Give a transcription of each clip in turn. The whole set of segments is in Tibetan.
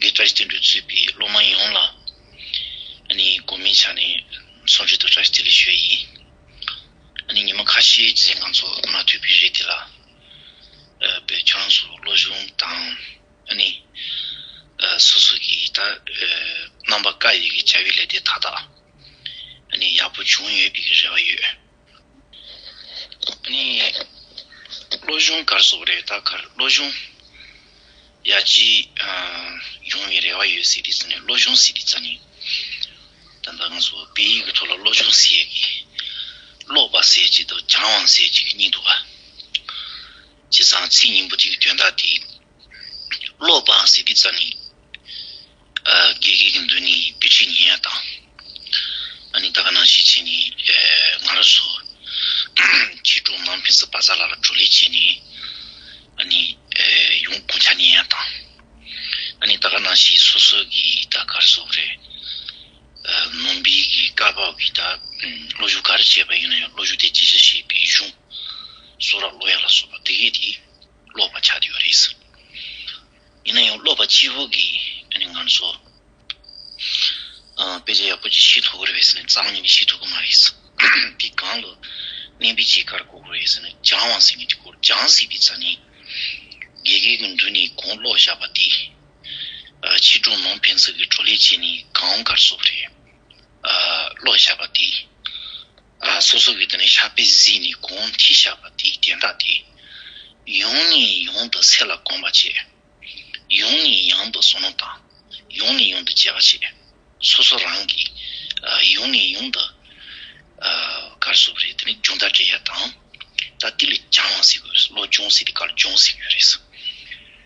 དགེ་རྩ་བསྟན་འགྲོའི་གཙོས་པའི་སློབ་མ་ཡོངས་ལ་དགོང་མོའི་ཆ་ནས་ཚོགས་ཆོས་རྡོ་རྩ་བརྒྱད་ལས་ཞུ་ཡིས། ཉི་མ་ཁ་ཤས་རྗེས་ང་ཚོ་མ་ཐོས་པའི་རི་དེ་ལ་བོད་ལྗོངས་སུ་བློ་གཞུང་དང། སོ་སོ་གི་ད་རྣམ་པ་དཀའ་ཡི་གི་བྱ་བའི་ལས་དེ་ཐ་དག་ཡག་པོ་བྱུང་ཡོད་པའི་རེ་བ་ཡོད། ནི། བློ་གཞུང་གར་སོགས་རེ་ད་གར་བློ་གཞུང། ཡ་བརྗིད། ཡོང་བའི་རེ་བ་ཡོད་སྲིད་དེ་ཟེར་ནས་བློ་གཞུང་ཟེར་དེ་རྩ་ནས། ད་ལྟ་ང་ཚོ་བོད་ཡིག་གི་ཐོག་ལ་བློ་གཞུང་ཟེར་ཡས་ཀྱི། ཀློག་པ་ཟེར་གྱི་འདུག་གྱང་བང་ཟེར་གྱི་གཉིས་འདུག་བ། བྱས་ཙང་ཚིག་སྙིང་པོ་དེའི་དོན་དག་དེ། བློ་སྦངས་གཟི་བརྒྱུད་རྩ་ནི། དགེ་བགེགས་ཀྱི་མདུན་ནི་སྤུ་གྲི་ཉེ་ཡང་དང། ཨ་ནི་ད་ག་ན་བྱེད་ཅེས་ནི་ང་ར་སོ། ཁྱི་གྲོགས་མང་ཕན་ཚུན་བ་ཚ་ལ་ལ་བྲོ་ལེ་ཅེས་ནི། ཨ་ནི་ཡོངས་དགོངས་ཆ་ཉེ་ཡང་དང། ཨ་ནི་ད་ག་ན་བྱེད་སོ་སོ་གི་ད་གར་སོ་ག་རེ། ནོམ་བི་གི་ཀ་བབ་གི་ད་བློ་གཞུག་ག་རེ་བྱས་པ་ཡིན་ན་ཡང་བློ་གཞུག་དེ་བརྗེད་བྱ་ཞེས་པའི་གཞུང། སོ་ར་བློ་ཡ་ལ་སོགས་པ་དེ་གས་ཏེ། ཀློག་པར་བྱ་འདོད་ཡོད་རེད། ཡིན་ན་ཡང་ཀློག་པ་སྤྱི་བོ་གི་ང་ཚོ་དཔེ་ཆ་ཡག་པོ་ཅིག་ཤེས་ཐུབ་ཀྱི་རེད་བས་སེམས་གཙང་ཉིད་ནས་ཤེས་ཐུབ་ཀྱི་མ་རེད། དེ་གང་ལ་གནས་པའི་ཆེད་ཀར་གོ་དགོས་རེད་ཟེར་ན་རྒྱང་བ་ཟིག་ནས་དེ་གོ་རྒྱང་ཟིག་པའི་ཚ་ནས་དགེ་རྒན་གྱི་མདུན་ནས་གང་ཀློག་བཞག་པ་དེ་ཕྱི་དྲོ་ནང་ཕན་ཚུན་གྱི་བྲོ་ལེ་བྱས་ནས་གང་དགར་བཟོ་གི་རེད། ཀློག་བཞག་པ་དེ། སོ་སོ་བའི་ནི་ཞགས་པས་གཟིགས་ནས་གོང་གི་བཤད་པ་དེའི་རྒྱན་དག་སྟེ། ཡང་ནས་ཡང་དུ་ཚེ་ལ་གོམས་པར་བྱེད། ཡང་ནས་ཡང་དུ་ཟོ་ནོ་དང། ཡང་ནས་ཡང་དུ་སྤྱད་པར་བྱེད། སོ་སོ་རང་གིས་ཡང་ནས་ཡང་དུ། གར་བཟོ་བ་རེད་དེ་ནི་སྦྱོང་བརྡར་བྱེད་ཡ་དང། ད་དེ་ལས་ཀྱང་བ་ཟེར་གི་ཡོད་རེད་བློ་སྦྱོང་ཟེར་དེ་གར་སྦྱོང་ཟེར་གི་ཡོད་རེད།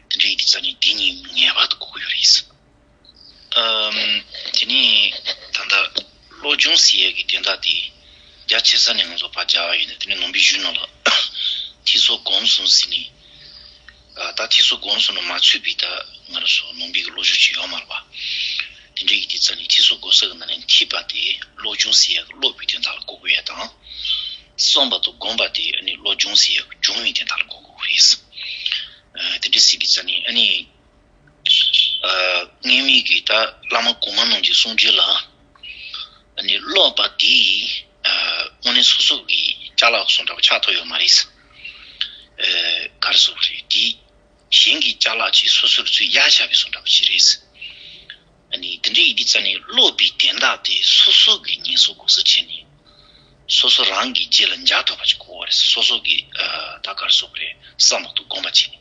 དེ་འདྲའི་ཡི་གེ་རྩ་གཉིས་དེ་གཉིས་ངེས་པར་དུ་གོ་གི་ཡོད་རེད། དེ་ནས་ད་ལྟ་བློ་སྦྱོང་ཟེར་ཡས་ཀྱི་དོན་དག་དེ་རྒྱ་ཆེ་ས་ནས་ང་ཚོ་བ་རྒྱ་ཡོད་ནས་དེ་ནས་ནོར་འབིག་གཞོན་ནུ་ལ་ཐིག་སོ་སྒོམ་སོང་ཟེར་ནས། ད་ཐིག་སོ་སྒོམ་སོང་ནོ་མ་ཚུད་པའི་ད་ང་ར་སོ་ནོར་འབིག་གི་བློ་སྦྱོར་ཅིག་ཡོག་མ་ར་བ། དེ་འདྲ་ཡིག་དེ་ཙ་ནས་ཐིག་སོ་སྒོ་ས་གི་ན་ནས་འཐིབ་པ་དེ་བློ་སྦྱོང་ཟེར་ཡས་ཀྱི་སློབ་པའི་དོན་དག་ལ་གོ་དགོས་ཡས་དང། གསང་བ་དང་སྒོམ་པ་དེ་ནས་བློ་སྦྱོང་ཟེར་ཡས་ཀྱི་སྦྱོང་བའི་དོན་དག་ལ་གོ་དགོས་དགོས་རེད། དེ་འདྲ་ཟེར་གི་ཙ་ནས་ཨ་ནས་ལྔའི་མིག་གིས་ད་བླ་མ་གོང་མ་རྣམས་ཀྱི་གསུང་བརྗོད་ལ། ཀློག་པ་འདི་དངོས་གནས་སོ་སོ་གི་ལྕགས་ལ་སོགས་འདྲ་བ་ཆགས་ཐོགས་ཡོད་མ་རེད། ག་རེ་སོགས་རེད་དེ། གཞན་གྱི་ལྕགས་ལ་ཆེ་སོ་སོར་ཚུད་ཡ་ཆགས་པའི་སོགས་འདྲ་བ་ཞིག་རེད། དེ་འདྲའི་ཡི་གེ་རྩ་ནས་ཀློག་པའི་དན་རྟགས་དེ་སོ་སོ་གི་ཉེས་གསོག་གོ་ས་བྱས་ནས། སོ་སོ་རང་གི་རྗེས་ལ་འཇགས་ཐོགས་པ་ཞིག་གོ་བ་རེད་སོ་སོ་གི་ད་ག་རེ་སོགས་རེད་བསམ་བ་དུ་སྒོམ་པ་བྱས་ནས།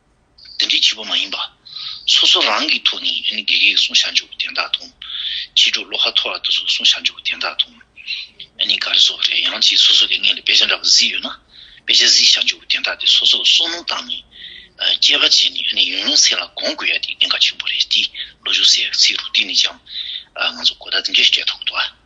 འདི་འདྲའི་བྱིས་པ་མ་ཡིན་པ། སོ་སོ་རང་གི་ཐོག་ནས་ཡོན་དགེ་རྒྱས་གསུང་བྱ་འཇུག་གི་དན་རྟགས་དང། ཕྱི་དྲོ་བློ་ཁ་མཐོ་བ་དེ་ཚོ་གསུང་བྱ་འཇུག་གི་དན་རྟགས་དང། ཨ་ནི་ག་རེ་བཟོ་བ་རེད་ཡང་ཅིག་སོ་སོ་གའི་མངལ་ལས་དཔེ་ཆ་འདྲ་པོ་གཟིགས་ཡོད་ན། དཔེ་ཆ་གཟིགས་བྱ་འཇུག་གི་དན་རྟགས་དེ་སོ་སོ་སོ་ནོར་བཏང་ནས། དཔྱད་པ་བྱས་ནས་ཨ་ནི་ཡུན་རིང་ཚེ་ལ་དགོངས་དགོས་ཡ་དེ་གནད་འགག་ཆེན་པོ་རེད་དེ་ལོ་ཅུང་ཟད་ཚེ་རུ་བརྟེན་ནས་ཀྱང། ང་ཚོ་གོ་བརྡ་འདི་འདྲའི་སྤྲད་ཐུབ་དགོས་ཐུག་ཨ།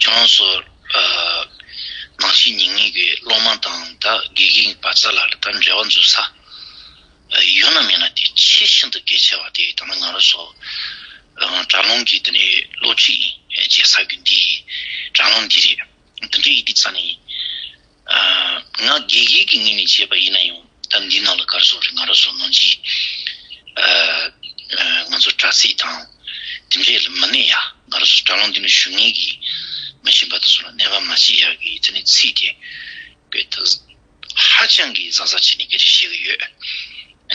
ཁྱོད་རང་ཚོ་ནང་ཆོས་ཉིང་ངེ་གི་སློབ་མ་དང་ད་གེ་གི་བ་ཚ་ལ་ལ་ད་འབྲེལ་བ་འཛུགས་ས་ཡོད་ནམ་མེད་ན་དེ་ཆེས་ཤིན་ཏུ་གེ་ཆེ་བ་དེ་ད་ང་རོ་ཚོ་གྲྭ་ལུང་གི་དེ་འདྲའི་སློབ་ཁྲིད་བྱེད་ས་གི་འདི་གྲྭ་ལུང་འདི་རེད་འདི་འདྲའི་ཡི་དི་ཚ་ནི། ང་དགེ་རྒན་གྱི་ངོས་ནས་བྱས་པ་ཡིན་ན་ཡང་ད་འདིའི་ནང་ལ་སྒར་ཚོགས་རེད་ང་རོ་སོ་ནོ་འཇིས། ང་ཚོ་དྲ་ཚིགས་དང་དེ་འདྲའི་ལ་མི་གནས་ཡ་ང་རོ་སོ་དྲ་ལམ་འདི་ནས་ཞུ་ངེས་ཀྱི་མི་ཤེས་པ་དེ་ཚོ་ལ་གནས་པ་མ་བྱེད་ཡ་གི་དེ་ནས་ཚིག་དེ་བེད་ད་ཧ་ཅང་གི་བཟའ་བཟའ་བྱས་ནས་ག་རེ་བཤད་ཀྱི་ཡོད།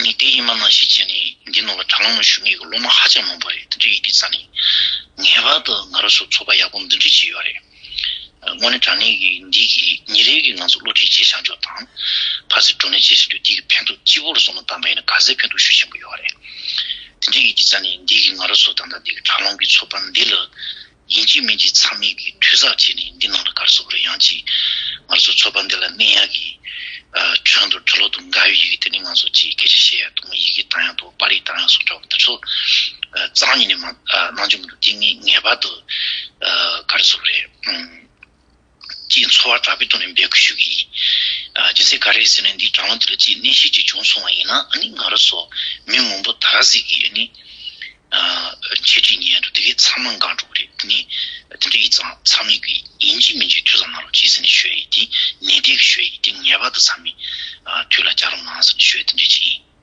ནས་དེ་ཡིན་མ་ནང་བཤད་བྱས་ནས་འདི་ནང་ལ་དྲ་ལམ་ནང་ཞུ་ངེས་ཀྱི་སློབ་མ་ཧ་ཅང་མང་པོ་རེད་དེ་འདྲའི་ཡི་གེ་བཙལ་ནས་ངེས་པར་དུ་ང་རོ་སོ་ཚོགས་པ་ཡག་པོ་འདི་འདྲའི་བྱས་ཡོད་རེད། དངོས་གནས་དྲང་གནས་ཀྱི་འདི་གི་ཉིན་རེའི་གི་ང་ཚོ་བློ་གྲོས་བཅས་བྱང་ཆུབ་དང། ཕར་ཚིག་བྲོ་ནས་བཅས་ཟེར་དུས་འདི་གི་ཕན་ཐོགས་སྤྱི་བོ་ལ་སོང་ན་དམ་པ་ཡིན་ན་ག་ཟེ་ཕན་ཐོགས་ཤུགས་ཆེན་པོ་ཡོད་རེད། དེ་འདྲའི་ཡིད་ཀྱི་རྩ་ནས་འདི་གི་ང་རོ་ཚོ་ད་ལྟ་འདི་གི་དྲག་རླུང་གི་ཚོ་པ་འདི་ལ་ཡིན་གཅིག་མིན་གཅིག་ཚང་མིན་གི་ཐུགས་ཟག་བྱས་ནས་འདི་ནང་ལ་གར་སོ་རེ་ཡང་གཅིག་ང་རོ་ཚོ་ཚོ་པ་འདི་ལ་སྨིན་ཡག་གི། དྲོན་དུ་དྲོ་ལོག་ཏུ་འགའ་ཡོད་ཡི་གེ་དེ་ནི་ང་ཚོ་གཅིག་སྐད་ཆ་བཤད་ཡག་དུ་མོ་ཡི་གེ་དང་ཡག་དོ། པར་རིས་བཏང་ཡོང་སོགས་འདྲ་བ་འདི་ཚོ་གཙང་ཉིད་ནས་མང་གནང་རྒྱུ་མི་འདུག་དེ་གཉིས་ངེས་པར་དུ་ག་རེ་ཟུག་རེད། ཅིག་འཚོ་བ་དྲག་པོའི་སྟོང་ནས་འབད་དགོས་ཞུ་གི་ཡིན། སྦྱིན་སྲེག་ག་རེ་ཟེར་ནས་འདི་དྲ་ལམ་དེ་ལ་ཅིག་གནས་ཤིག་ཅིག་བྱུང་སོང་བ་ཡིན་ན་ནི་ང་རོ་སོ་མི་སྔོན་པོ་ད་ར་ཟིག་གི་ནི་འཆད་ཁྲིད་ཉན་འདུག་དེ་གས་ཚང་མ་འགང་འགྲོ་གི་རེད་དེ་ནི་དེ་འདྲ་ཡིག་ཚང་ཚང་མིན་གི་ཡིན་གཅིག་མིན་གཅིག་དུས་བཟང་གནང་རོགས་ཅིག་ཟེར་ནས་ཞུས་ཡིན་དེ་ནན་ཏིག་གི་ཞུས་ཡིན་དེ་ངེས་པར་དུ་ཚང་མིན་དུས་ལ་སྦྱར་རོགས་གནང་ཟེར་ནས་ཞུས་དེ་འདྲ་ཅིག་ཡིན།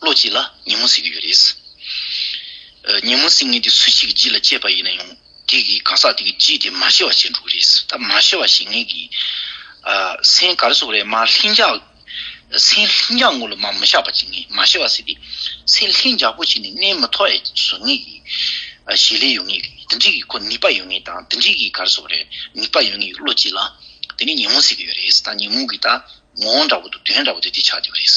བློ་གཅིག་ལ་ཉིན་མོ་ཟེར་གྱི་ཡོད་རེད། ཉིན་མོ་ཟེར་ངེས་དེ་སུ་ཞིག་གི་རྗེས་ལ་བཅད་པ་ཡིན་ན་ཡང་དེ་གིས་གང་ཟག་དེ་གི་རྗེས་དེ་མ་བྱས་བ་བྱས་འགྲོ་གི་རེད། ད་མ་བྱས་བ་བྱས་ངེས་ཀྱི། སེང་གར་སོགས་རས་མར་ལྷིང་འཇགས། སེང་ལྷིང་འཇགས་ངོ་ལ་མ་མི་བཞག་པ་བྱས་ངེས་མ་བྱས་བ་ཟེར་དེ་སེང་ལྷིང་འཇགས་པོ་བྱས་ནས་གནས་མི་ཐོག་ཡ་བཟོ་ངེས་ཀྱི། ཞེས་ལས་ཡོད་ངེས་ཀྱི་དེ་འདྲས་ཀྱི་ཁོ་ནུས་པ་ཡོད་ངེས་དང་དེ་འདྲས་ཀྱི་གར་སོགས་རས་ནུས་པ་ཡོད་ངེས་ཀྱི་བློ་གཅིག་ལ་དེ་ནི་ཉིན་མོ་ཟེར་གྱི་ཡོད་རེད་ད་ཉིན་མོ་གི་ད་ངོ་བོ་འདྲ་བོ་དང་དོན་འདྲ་བོ་དེ་དེ་ཆགས་ཀྱི་ཡོད་རེད།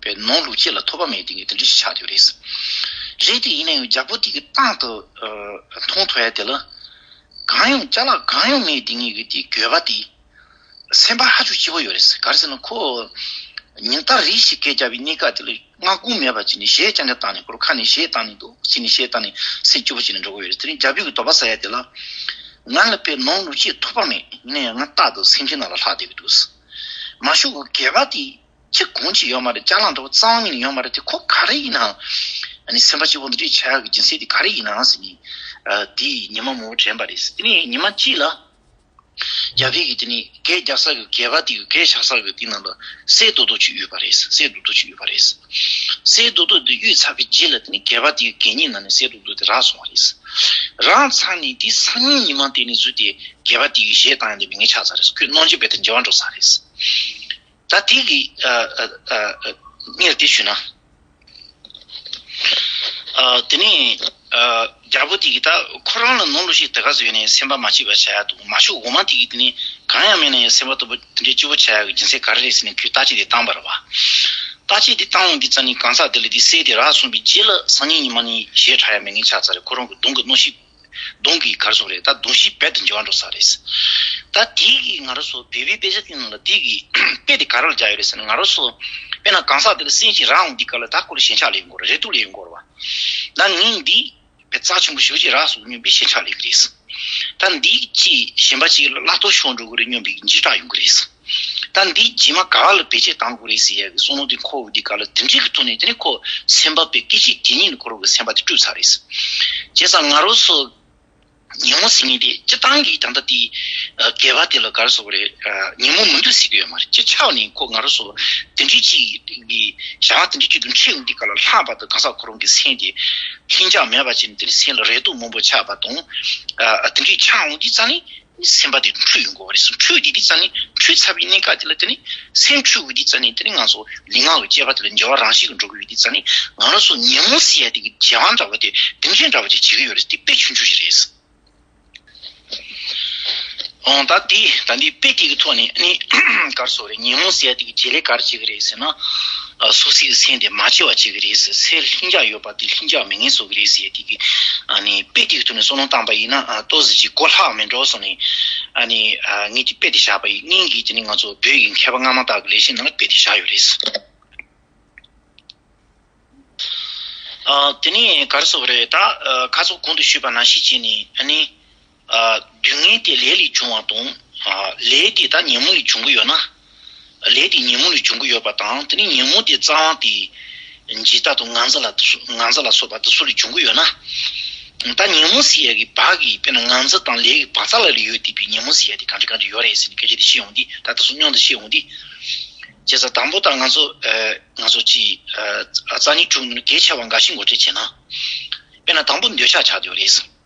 པའི་ནང་ལུགས་ཁྱེད་ལ་ཐོབ་པ་མེད་དེ་ངས་དེ་འདྲ་ཞིག་ཆགས་ཡོད་རེད། རེད་དེ་ཡིན་ན་ཡང་རྒྱ་པོ་ཏི་གི་ཏང་དུ་མཐོང་ཐོ་ཡ་དེ་ལ་གང་ཡང་བཅའ་ལག་གང་ཡང་མེད་དེ་ངས་གི་དེ་གྱོད་པ་དེ་སེམས་པ་ཧ་ཅུག་སྐྱིད་པོ་ཡོད་རེད་ག་རེ་ཟེར་ན་ཁོ་ཉིན་ལྟར་རེ་ཞིག་སྐད་རྒྱག་པའི་གནས་སྐབས་དེ་ལ་སྔ་དགོང་མེད་པར་བྱས་ནས་གཞས་རྐྱང་རྐྱང་བཏང་ནས་འགྲོ་ཁ་ནས་གཞས་བཏང་ནས་འདུག་བྱས་ནས་གཞས་བཏང་ནས་སེམས་སྐྱིད་པོ་བྱས་ནས་འགྲོ་གི་ཡོད་རེད་དེ་རིང་རྒྱ་བོད་ཀྱི་དོག་པ་ཟ་ཡ་དེ་ལ་ང་ལ་པའི་ནང་ལུགས་ཁྱེད་ཐོབ་པ་མེད་ཡིན་ན་ཡང་ང་རྟག་ཏུ་སེམས་ཅན་ནང་ལ་ལྷག་བསྡད་ཀྱི་འདུག་མ་ཤོག་གི་གྱོད་པ་དེ་ཁྱི་སྒོང་གཅིག་ཡོད་མ་རེད་སྐྱག་ལངས་དོག་གཙང་སྙིང་ཡོད་མ་རེད་དེ་ཁོ་ག་རེ་ཡིན་ནའང། ཨ་ནི་སེམས་པ་སྐྱིད་པོ་འདི་འདྲའི་ཆེ་ཧ་གི་སྦྱིན་སྲེག་དེ་ག་རེ་ཡིན་ནའང་ཟེར་ནས། དེ་ཡིས་ཉི་མ་མོ་བོ་དྲན་པ་རེད། དེ་ནས་ཉི་མ་སྐྱིད་ལ། རྒྱ་བོད་ཀྱི་དེ་ནི་གད་རྒྱག་ས་གི་གད་པ་དེ་གི་གད་བཞག་ས་གི་དེ་ནང་ལ་སའི་རྡོ་རྡོ་གཅིག་ཡོད་པ་རེད་སའི་རྡོ་རྡོ་གཅིག་ཡོད་པ་རེད། སའི་རྡོ་རྡོ་དེ་གཡུགས་ཚར་བའི་རྗེས་ལ་དེ་ནི་གད་པ་དེ་གི་གད་སྙིགས་ནང་ནས་སའི་རྡོ་རྡོ་དེ་རག་སོང་བ་རེད། རག་ཚར་ནས་དེ་སང་ཉིན་ཉི་མ་དེ་ནས་བཟུད་དེ་གད་པ་དེ་གི་གཞས་བཏང་ཡང་དེ་མི་ངན་ཆགས་ཚར་རེད་ཁོས་གནོང་རྗེས་བལ་ཐི་འཇལ་བར་འགྲོ་ཚར་རེད། ད་དེ་ལས་གཉེར་ཏེ་ཞུས་ན། དེ་ནས་རྒྱལ་པོ་དེས་ད་ཁོ་རང་ལ་ནོར་ལུག་ཞིག་དེ་ག་ཟེར་བས་ནས་སེམས་པ་མ་སྐྱིད་པར་བྱ་ཡག་འདུག་མ་ཤོག་འོ་མ་དེ་གིས་དེ་ནས་གང་ཡང་མེད་ན་ཡང་སེམས་པ་སྟུག་པོ་དེ་འདྲའི་སྐྱིད་པོ་བྱ་ཡག་གི་སྦྱིན་སྲེག་ག་རེ་རེད་ཟེར་ནས་ཁོས་རྟ་ཕྱེ་དེ་བཏང་བར་བ། རྟ་ཕྱེ་དེ་བཏང་ལུང་དེ་ཙམ་ནས་གང་ཟག་དེ་ལ་དེ་བསད་དེ་རག་སོང་བའི་རྗེས་ལ་སང་ཉིན་ཉི་མ་ནས་ཞེས་གྲགས་ཡ་མེད་ངན་ཆགས་ཚར་རེ་ཁོ་རང་གི་གདོང་གི་རྣོ་ཤིག་གདོང་གི་གར་སོགས་རེད་ད་གདོང་ཞིབ་དཔལ་དུ་འགྱུར་བ་འགྲོ་ས་རེད། ད་དེ་གི་ང་རོ་སོགས་བལ་བོའི་དཔེ་ཆ་དེ་རྣམས་ལ་དེ་གི་དཔེ་དེ་ག་རེ་ལ་སྦྱར་ཡོད་རེད་ཟེར་ན་ང་རོ་སོགས་དཔེ་རྣམས་གང་ཟག་དེ་ལ་སེམས་ཤིང་རང་འོང་དེ་ག་ལ་ད་སྐོར་ལ་ཞེན་ཆགས་ལས་ཡོད་འགོར་རེ་དུག་ལས་ཡོད་འགོར་བ། ད་ངའི་འདི་བལ་བཙག་ཆུང་པོ་ཞོ་གཅིག་རགས་སོང་སྙོན་པའི་ཞེན་ཆགས་ལས་གི་རེད། ད་འདི་ཅིག་གཞན་པ་ཅིག་ལ་གླ་གཏོར་ཤོར་འགྲོ་གི་རེད་སྙོན་པའི་འཇིགས་སྐྲག་ཡོང་གི་རེད། ད་འདིའི་རྗེས་མ་ག་ལ་བེད་སྤྱད་གཏང་དགོས་རེད་ཟེར་ཡ་གི་གསུང་ལུགས་དེ་ཁོ་བོས་འདི་ག་ལ་དེ་འདྲིའི་གི་ཐུགས་ནས་དེ་ནས་ཁོ་སེམས་བབས་པའི་སྐད་ཅིག་དེ་ཉིད་ནས་ཁོ་རང་གི་སེམས་པ་དེ་བཀྲུས་ཚར་རེད། བྱས་ཙང་ང་རོ་སོ་ཉིན་མོ་ཟེར་ངེས་དེ་སྤྱི་བཏང་གིས་ད་ལྟ་དེ་གས་པ་དེ་ལ་ག་རེ་བཟོ་གི་རེད་ཉིན་མོ་མི་འདུག་ཟེར་གི་ཡོད་མ་རེད་སྤྱི་ཆགས་ནས་ཁོ་ང་རོ་སོ་དེ་འདྲིའི་ཅིག་གི་བྱ་བ་དེ་འདྲིའི་ཅིག་ཏུ་འཁྲིད་འདི་ག་ལ་ལྷག་པ་དང་གང་ཟག་ཁོ་རང་གི་སེམས་དེ་ལྷིང་འཇགས་མེད་པ་བྱས་ནས་དེ་ནས་སེམས་ལ་རེ་དོགས་མང་པོ་ཆགས་པ་དང། དེ་འདྲིའི་ཆགས་འོང་དུས་ཙང་ནས་སེམས་པ་དེ་འཁྲུལ་ཡོང་དགོས་པ་རེད་སེམས་འཁྲུལ་དེ་དེ་རྩ་ནི་འཁྲུལ་ཚ་བའི་གནས་སྐབས་དེ་ལ་བརྟེན་ནས་སེམས་འཁྲུལ་བའི་དེ་རྩ་ནི་དེ་ནི་ང་ཚོ་ལུས་ངག་གི་སྐྱེ་བ་དེ་ལ་འགྱུར་བ་རང་བཞིན་གྱིས་འགྲོ་གི་ཡོད་དེ་རྩ་ནི་ང་རང་ཚོ་ཉིན་མོ་སད་དེ་གི་བྱ་བ་འདྲ་བ་དེ་དེང་ཕྱིན་འདྲ་བ་ཅིག་བྱེད་ཀྱི་ཡོད་རེད་དེ་དཔེ་ཆུང་ཆུང་ཞིག་རེད། འོང་ད་དེ་ད་འདི་དཔེ་དེ་གི་ཐོག་ནས་ནི་གར་སོ་རེད་ཉིན་མོ་སད་དེ་གི་བྱེད་ལས་གར་བྱེད་ཀྱི་རེད་ཟེར་ན། སོ་སོའི་མཚན་དེ་མ་བྱེ་བ་བྱེད་ཀྱི་རེད་ཟེར་སའི་ལྷིང་འཇགས་ཡོད་པ་དེ་ལྷིང་འཇགས་མི་ངན་བཟོ་གི་རེད་ཟེར་ཡས་དེ་གི་དཔེ་དེ་གི་ཐུགས་ནས་གསོ་སློང་བཏང་པ་ཡིན་ན་ཏོ་གཟི་བརྗིད་གོ་ལྷག་མེད་འགྲོ་སོང་ནས་ངས་དེ་དཔེ་དེ་བཞག་པ་ཡིན་ངེད་གིས་དེ་ནི་ང་ཚོ་བོད་ཀྱི་མཁས་པ་སྔ་མ་དག་གི་ལས་བྱེད་ནང་དཔེ་དེ་བཞག་ཡོད་རེད་ཟེར། དེ་ནས་ག་རེ་བཟོ་བ་རེད་ད་ཁ་ཚོགས་གོང་དུ་ཞུས་པ་ནང་བཞིན་བྱས་ནས་སྡུག་བསྔལ་དེ་ལས་ལས་བྱུང་བ་དང། ལས་དེ་དག་ཉིན་མོ་ལས་བྱུང་གི་ཡོད་ན། ལས་དེ་ཉིན་མོ་ལས་བྱུང་གི་ཡོད་པ་དང་དེ་ནས་ཉིན་མོ་དེ་རྩ་བ་དེ། ཇི་ལྟ་དང་ངང་ཚ་ལ་སོགས་པ་དེ་སུ་ལས་བྱུང་གི་ཡོད་ན། ད་ཉིན་མོ་ཟེར་ཡས་ཀྱི་བག་གི་དཔེར་ན་ངང་ཚ་དང་ལས་ཀྱི་བག་རྩ་ལ་ལས་ཡོད་དེ་བས་ཉིན་མོ་ཟེར་ཡས་དེ་གང་དྲིས་གང་དྲིས་ཡོད་རེད་ཟེར་ནས་སྐད་ཆ་དེ་བཤད་འོང་དུས་ད་ད་སོ་སྙོམས་དུ་བཤད་འོང་དུས། བྱས་ཙང་དང་པོ་ད་ང་ཚོ། ང་ཚོ་ཅི། རྩ་གཉིས་དྲུག་ནི་གལ་ཆེ་བ་འགའ་ཞིག་མགོ་ཁྲིད་བྱས་ན། དཔེར་ན་དང་པོ་འདོད་ཆགས་ཆགས་ཡོད་རེད།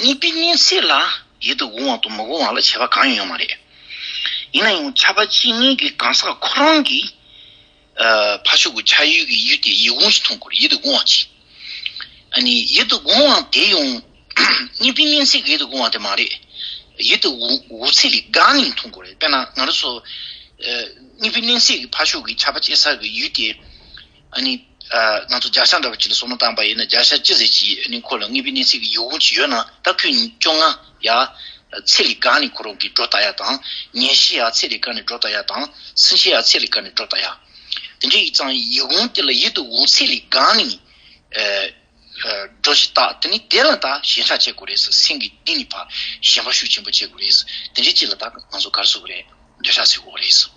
གཉིས་པའི་གཉེན་བསྲེ་ལ་ཡིད་དུ་འོང་བ་དང་མི་འོང་བ་ལ་བྱ་བ་གང་ཡང་ཡོད་མ་རེད། ཡིན་ན་ཡང་ཆ་བ་གཅིག་གཉིས་ཀྱི་གང་ཟག་ཁོ་རང་གི་ཕ་ཕྱོགས་ཀྱི་ཆ་ཡུལ་གྱི་ཡུལ་དེ་ཡིད་འོང་ཞིག་མཐོང་སྐོར་ཡིད་དུ་འོང་བ་གཅིག། ཡིད་དུ་འོང་བ་དེ་ཡང་གཉིས་པའི་གཉེན་བསྲེ་གི་ཡིད་དུ་འོང་བ་དེ་མ་རེད། ཡིད་དུ་འོང་ཚད་ལས་འགའ་ནི་མཐོང་སྐོར་རེད་དཔེར་ན་ང་རོ་སོ། གཉིས་པའི་གཉེན་བསྲེ་གི་ཕ་ཕྱོགས་ཀྱི་ཆ་བ་གཅིག་ཟག་གི་ཡུལ་དེ་ཨ་ནི། ང་ཚོ་རྒྱ་ཤ་འདྲ་བོ་གཅིག་ལ་སོ་མ་བཏང་པ་ཡིན་ན་རྒྱ་ཤ་ཅི་ཟེར་གྱིས་ཨ་ནི་ཁོ་ལ་ངེས་པའི་གནས་ཚིག་གི་ཡོ་བུར་གྱིས་ཡོད་ན་ད་ཁྱོད་ཉིན་བཅོ་ལྔ་ཡ། ཚེས་རེ་འགའ་ནི་ཁོ་རང་གིས་སྒྲོ་བཏགས་ཡ་དང། ཉེར་བཞི་ཡ་ཚེས་རེ་འགའ་ནི་སྒྲོ་བཏགས་ཡ་དང། སྲིན་བྱ་ཡ་ཚེས་རེ་འགའ་ནི་སྒྲོ་བཏགས་ཡ། དེ་འདྲའི་ཡིག་ཚང་ཡིག་དབང་དེ་ལ་ཡིད་དུ་འོང་ཚེས་རེ་འགའ་ནི། སྒྲོ་ཞིག་བཏགས་དེ་ནི་དེ་ལ་ད་ཞེན་ཆགས་བྱེད་དགོས་རེད་ཟེར་སེང་གེ་འདི་ནི་ཕ་ཞེན་པ་ཤུགས་ཆེན་པོ་བྱེད་དགོས་རེད་ཟེར་དེ་འདྲའི་ཅིག་ལ་ད་ང་ཚོ་གར་སོ་གི་རེད་འདོད་ཤག་ཟེར་གོ་རེད་ཟེར།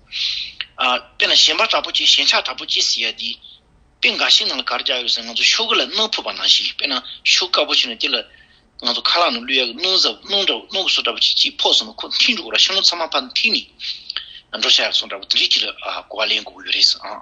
དཔེ་ན་ཞེན་པ་དྲག་པོ་སྐྱེས་ཞེན་ཆགས་དྲག་པོ་སྐྱེས་ཟེར་ཡ་འདིས། དཔེ་འགའ་ཞིག་ནང་ལ་གར་རྒྱག་ཡོད་ཟེར་ང་ཚོ་ཤོག་གུ་ལ་སྣུག་ཕོ་བ་ནང་བཞིན་དཔེ་ན་ཤོག་དཀར་པོ་ཞིག་ནས་དེ་ལ་ང་ཚོ་ཁ་ལག་ནང་བླུད་ཡ་གི་སྣུག་ཟ་སྣུག་འདྲ་སྣུག་གི་སོ་འདྲ་པོ་ཅིག་ཅིག་ཕོག་སོང་ན་ཁོ་མཐིང་འགྲོ་དགོས་ར་ཤིང་ལོ་ཚང་མ་ཕར་མཐིང་ནས་འགྲོ་བྱ་ཡག་སོང་འདྲ་པོ་དེ་འདྲའི་ཁྱི་ལ་གོ་བ་ལེན་དགོས་ཀྱི་ཡོད་རེད་ཟེར།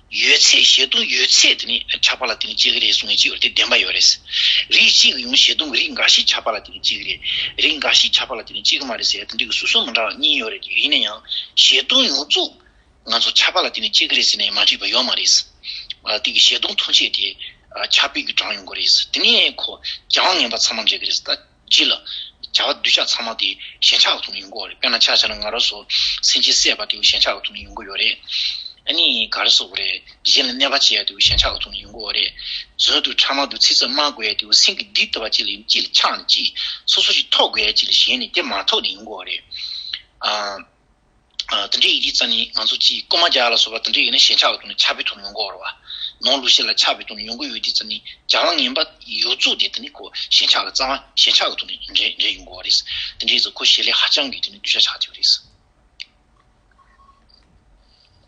ཡོད་ཚད་བཤད་དུང་ཡོད་ཚད་དེ་ནི་ཆགས་པ་ལ་དེ་ནི་སྐྱེ་གི་རེད་གསུང་མཁན་གཅིག་ཡོད་དེ་བདེན་པ་ཡོད་རེད། རིགས་གཅིག་གི་ཡོང་བཤད་དུང་གི་རིགས་འགའ་ཞིག་ཆགས་པ་ལ་དེ་ནི་སྐྱེ་གི་རེད། རིགས་འགའ་ཞིག་ཆགས་པ་ལ་དེ་ནི་སྐྱེ་གི་མ་རེད་ཟེར་དེ་འདི་གི་སུ་སུ་མི་འདྲ་བ་གཉིས་ཡོད་རེད་ཡོད་ཡིན་ན་ཡང་བཤད་དུང་ཡོངས་རྫོགས་ང་ཚོ་ཆགས་པ་ལ་དེ་ནི་སྐྱེ་གི་རེད་ཟེར་ནས་མ་བྲིས་པ་ཡོད་མ་རེད། དེ་གི་བཤད་དུང་ཐུང་ཆད་དེ་ཁྱབ་སྤེལ་གི་གྲངས་ཡོང་གི་རེད་དེ་ནས་ཁོ་རྒྱང་ངན་པ་ཚང་མ་མཇལ་གི་རེད་ད། བགྱིས་ལ། བྱ་བ་གདུལ་བྱ་ཚང་མ་དེ་གཞན་ཆགས་ཐུབ་ནི་ཡོང་གི་འོ་རེད་དཔེར་ན་ཆ་ཆ་ལ་ང་ར་སོ་སེན་གྱིས་བསད་པ་དེའུ་གཞན་ཆགས་ཐུབ་ནི་ཡོང་གི་ཡོ་རེད། ཨ་ནི་ག་ར་སོ་བོ་རེད་གཞན་ལ་གནས་པ་བྱས་ཡ་དེའུ་གཞན་ཆགས་ཐུབ་ནི་ཡོང་གི་འོ་རེད། ཟོལ་དུ་ཕྲ་མ་དུ་ཚིག་ཚད་མ་དགོས་ཡ་དེའུ་སེན་གྱིས་འདི་ལྟ་བ་ཅིག་ལ་ཡིན་ཅིག་ལ་ཆགས་ནི་ཅིག་སོ་སོ་ཞིག་ཐོག་དགོས་ཡ་ཅིག་ལ་གཞན་ནི་དེ་མ་ཐོག་ནི་ཡོང་གི་འོ་རེད། འདི་འདྲའི་ཡི་གེ་རྩ་ནི་ང་ཚོ་སྤྱིའི་རྐུན་མ་རྒྱག་ལ་བཟོ་བ་འདི་འདྲའི་ཡི་གེ་ནི་ཞེན་ཆགས་ཀྱི་ཐོག་ནས་ཆགས་པའི་ཐོག་ནས་ཡོང་གི་འོར་བ། ནོར་ལུག་བཤད་ལ་ཆགས་པའི་ཐོག་ནས་ཡོང་གི་ཡོད་འདི་རྩ་ནི་རྒྱག་ལ་ངན་པ་ཡོད་རྫོགས་དེ་དེ་ནི་ཁོ་ཞེན་ཆགས་ལ་རྩ་བ་ཞེན་ཆགས་ཀྱི་ཐོག་ནས་འདྲེས་འདྲེས་ཡོང་གི་འོར་བ་རེད། འདི་འདྲའི་ཁོ་ཞེ་ལས་ཧ་ཅང་གི་འདི་ནི་གདུལ་བྱ་ཆགས་ཀྱི་བ་རེད།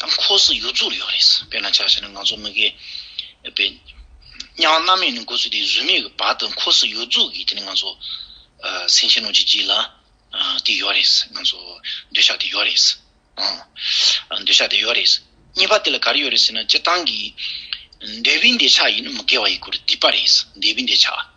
དང་ཁོ་སི་ཡོད་ཚུལ་ཡོད་རེད་དཔེར་ན་ཆ་ཤས་ནི་ང་ཚོ་མི་གེ་པའི་གཉའ་བ་སྣ་མེད་ནི་འགོ་ཚུལ་དེ་གཟུལ་མེད་ཀྱི་བར་དུ་ཁོ་སི་ཡོད་ཚུལ་གྱི་དེ་ནི་ང་ཚོ་སེང་ཆེན་ནོར་གྱི་རྗེས་ལ་དེ་ཡོད་རེད་ང་ཚོ་འདོད་ཆགས་དེ་ཡོད་རེད་འདོད་ཆགས་དེ་ཡོད་རེད་གཉིས་པ་དེ་ལ་ག་རེ་ཡོད་རེད་ཟེར་ན་སྤྱིར་བཏང་གི་འདོད་པའི་འདོད་ཆགས་ཡིན་ན་མི་གེ་བ་ཡི་སྐོར་དེ་པ་རེད་འདོད་པའི་འདོད་ཆགས།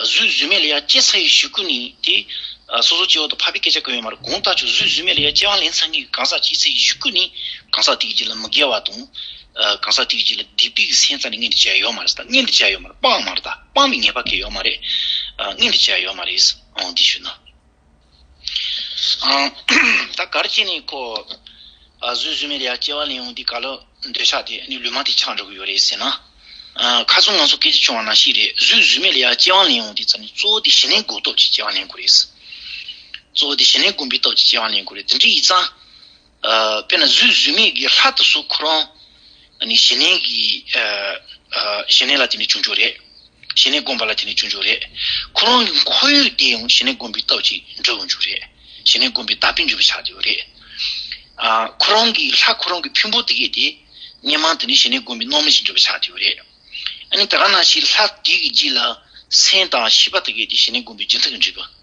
གཟུགས་བཟོད་མེད་ལ་ཡང་སྐྱེ་ཚར་ཡོད་ཞུ་སྐུལ་ནི་དེ་སོ་སོ་སྐྱེ་བོ་དང་འཕགས་པའི་སྐད་ཆ་གོ་ཡོད་མ་རེད་དགོངས་དག་ཆོག་གཟུགས་བཟོད་མེད་ལ་ཡང་སྐྱེ་བ་ལེན་ཚར་ངེས་ཀྱི་གང་ཟག་སྐྱེ་ཚར་ཡོད་ཞུ་སྐུལ་ནི་གང་ཟག་དེའི་རྗེས་ལ་མི་དགེ་བ་དང། གང་ཟག་དེའི་རྗེས་ལ་སྡིག་པའི་གི་སེམས་ཙམ་ནི་ངས་འདི་བྱས་ཡོད་མ་རེད་ད་ངས་འདི་བྱས་ཡོད་མ་རེད་སྤངས་མ་རེད་ད་སྤངས་པའི་ངེས་པ་གལ་ཡོད་མ་རེད། ངས་འདི་བྱས་ཡོད་མ་རེད། འོང་འདི་ཞུས་ན། ད་གར་སྐྱེས་ནས་ཁོ་བཟོས་བཟོས་མེད་ལ་ཡ་སྐྱེས་བ་ལས་ཡོང་དུས་ག་ལ་འདོད་ཆགས་དེ་ནི་ལུས་མང་དེ་ཆགས་འགྲོ་གི་ཡོད་རེད་ཟེར་ན། ཁ་བཙུམ་ང་ཚོ་སྐད་ཆ་བྱུང་བ་ན་ཤི་རེད་བཟོས་བཟོས་མེད་ལ་ཡ་སྐྱེས་བ་ལས་ཡོང་དུས་ཙམ་ནས་གཙོ་བོ་དེ་ཞི་གནས་འགོག་སྟོབས་ཀྱི་སྐྱེས་བ་ལེན་དགོས་རེད། གཙོ་བོ་དེ་ཞི་གནས་འགོག་འབུད་སྟོབས་ཀྱི་སྐྱེས་བ་ལེན་དགོས་རེད་འདི་འདྲའི་ཡིག་ཚང། དཔེར་ན་གཟུགས་གཟུགས་མེད་ཀྱི་ལྷ་དང་གཟུགས་ཁོ་རང་ནི་གཞན་ལས་ཀྱི། གཞན་ལས་ལ་དེ་ནི་བྱུང་ཆོག་རེད། གཞན་ལས་བསྒོམས་པ་ལ་དེ་ནི་བྱུང་ཆོག་རེད། ཁོ་རང་གི་འཁོར་ཡུག་དེ་ཡང་གཞན་ལས་བསྒོམས་པའི་སྟོབས་ཀྱིས་འགྲུབ་འོང་ཆོག་རེད། གཞན་ལས་བསྒོམས་པའི་བདག་པས་འགྲུབ་པར་ཆགས་ཡོད་རེད། ཁོ་རང་གི་ལྷ་ཁོ་རང་གི་ཕུང་པོ་དེ་གས་ཏེ། ཉེས་མང་དེ་ནི་གཞན་ལས་བསྒོམས་པའི་སྣང་མེད་ཀྱིས་འགྲུབ་པར་ཆགས་ཡོད་རེད། ཨ་ནི་ད་ག་ན་ཞིག་ལྷ་དེ་གའི་རྗེས་ལ་སེམས་དང་ཤེས་པ་དེ་གས་ཏེ་གཞན་ལས་བསྒོམས་པའི་སྦྱིན་མཐུ་གིས་འགྲུབ།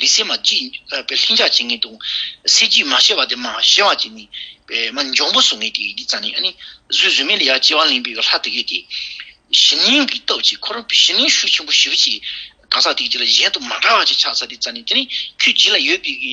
ལི་སེ་མ་བརྗིད་པའི་ལྷིང་འཇགས་བྱེད་ངེས་དང། སེ་བརྗིད་མ་ཤེས་པ་དེ་མ་ཤེས་བ་བྱེད་ངེས། མ་འཇོང་པོ་བཟོ་ངེས་ཏེ་འདི་ཙམ་ནས། གཟུགས་བཟོད་མེད་ལ་ཡར་སྐྱེ་བ་གླེང་པའི་ལྷ་དེ་གས་ཏེ། ཞི་གནས་ཀྱི་སྟོབས་ཀྱིས་ཁོ་རང་ཞི་གནས་ཤུགས་ཆེན་པོ་ཞི་བ་བྱས། གང་ཟག་དེ་གཅིག་ལ་གཞན་དུ་མ་འདྲ་བ་ཅིག་ཆགས་ས་དེ་ཙམ་ནས། ཁྱོད་བརྗིད་ལ་ཡོད་པའི།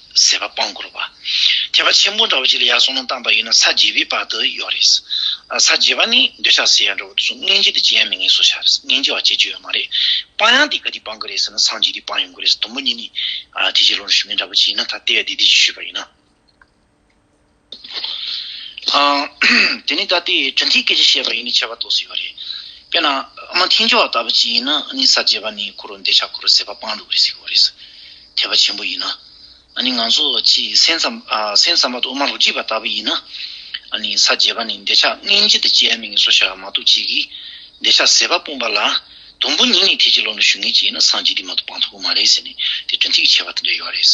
ཟད་པ་སྤང་དགོས་པ། ཐེག་པ་ཆེན་པོ་འདྲ་བོ་ཅིག་ལ་ཡར་སོང་ལ་བཏང་པ་ཡིན་ན་ས་བརྒྱད་པའི་བར་དུ་ཡོད་རེད། ས་བརྒྱད་པ་ནི་འདོད་ཆགས་ཟེར་ཡ་འདྲ་བོ་དེ་ཚོ་སྔན་རྗེས་དེ་བརྗེད་ཡ་མི་ངེས་སོ་ཤ་རེད་སྔན་རྗེས་བ་བརྗེད་རྒྱུ་ཡོད་མ་རེད། སྤང་ཡང་དེ་ག་དུས་སྤང་གི་རེད་ཟེར་ན་སངས་རྒྱས་དུས་སྤང་ཡོང་གི་རེད་དུམ་བུ་གཉིས་ནི། དེ་རྗེས་ལོ་རེ་ཞུ་མཁན་འདྲ་བོ་ཅིག་ཡིན་ན་ད་ལྟེ་བ་དེ་དུས་ཀྱི་ཞུས་པ་ཡིན་ན། དེ་ནི་ད་ལྟའི་དྲིན་ཐིག་སྐད་ཅིག་བཤད་པ་ཡིན་ནི་ཆད་པ་དོགས་སུ་ཡོད་རེད། དཔེར་ན། ཨ་མ་འཐེན་ཆོག་ལྟ་བུ་ཅིག་ཡིན་ན་ནི་ས་བརྗེ་བ་ནི་ཁོ་རུ་འདེད་ཆགས་ཁོ་རུ་ཟད་པ་སྤང་ལུགས་རེད་ཟེར་གོ་རེད། དད་པ་ཆེན་པོ་ཡིན་ན། ནི་ང་ཚོ་ཕྱི་སེམས་ཙམ་པ་དུ་ཨ་མ་རོ་བརྗེས་པ་ལྟ་བུ་ཡིན་ན། ནི་ས་བརྗེ་བ་ནི་འདེད་ཆགས་སྔན་ཅི་ལྟར་བྱས་མིན་གྱི་སོ་ཤ་མ་གཏུགས་ཅིག་གིས་འདེད་ཆགས་ཟད་པ་སྤོངས་པ་ལ། དུམ་བུ་ཉིད་ནི་ཐེག་ཆེན་ལོགས་ནས་ཞུ་ངེས་ཅིག་ཡིན་ན་སངས་རྒྱས་འདི་མ་གཏོགས་སྤང་ཐུབ་ཀྱི་མ་རེད་ཟེར་ནས་དེ་དྲིན་ཐིག་གི་ཆད་པ་དེ་འདྲ་ཡོད་རེད།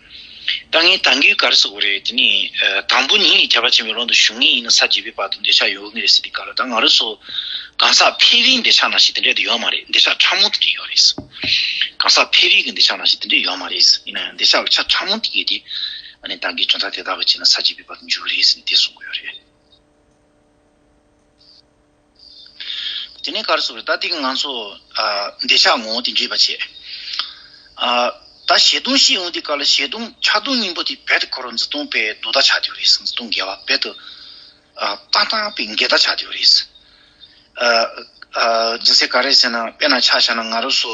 དཀའ་ངལ་དང་གི་གར་སོགས་རེད་དེ་ནས་དང་པོ་ནི་ཁྱད་པར་ཆེན་པོའི་ཀློང་དུ་ཞུགས་ངེས་ཡིན་ན་ས་བརྗེས་པའི་བར་དུ་འདོད་ཆགས་ཡོད་དགོས་ངེས་རེད་ཟེར་དུས་ག་ལ་ད་ང་རོ་ཚོ་གང་ཟག་ཕལ་རིའི་འདོད་ཆགས་ནང་བཞིན་དེ་འདྲ་དེ་ཡོད་མ་རེད་འདོད་ཆགས་ཕྲ་མོ་དེ་འདྲ་ཡོད་རེད། གང་ཟག་ཕལ་རིའི་གི་འདོད་ཆགས་ནང་བཞིན་དེ་འདྲ་ཡོད་མ་རེད་ཡིན་ན་ཡང་འདོད་ཆགས་ཀྱི་ཆ་ཕྲ་མོ་དེ་ཡོད་དེ། ཨ་ནི་དང་གི་གྲུབ་མཐའ་དེ་དག་གི་རྗེས་ན་ས་བརྗེས་པའི་བར་དུ་འཇུག་རེད་ཟེར་ནས་དེ་གསུངས་གི་ཡོད་རེད། དེ་ནས་གར་སོང་བས་ད་ཐེངས་ང་ཚོ་འདེད་ཆགས་ངོ་བོ་དེ་འདྲིས་པ་བྱས། ད་བཞེད་དུང་ཤེས་འོང་དེ་ག་ལ་བཞེད་དུང་ཕྱག་དུང་སྙིང་པོ་དེ་བེད་དུ་འཁོར་རོ་འཛི་དུང་པས་དུ་ད་ཆགས་དེ་རེད་འཛི་དུང་འགལ་བ་བེད་དུ་བཏང་བཏང་པས་འགལ་ད་ཆགས་དེ་རེད། སྦྱིན་སྲེག་ག་རེད་ཟེར་ན་དཔེ་ན་ཆགས་བཞག་ན་ང་རོ་སོ།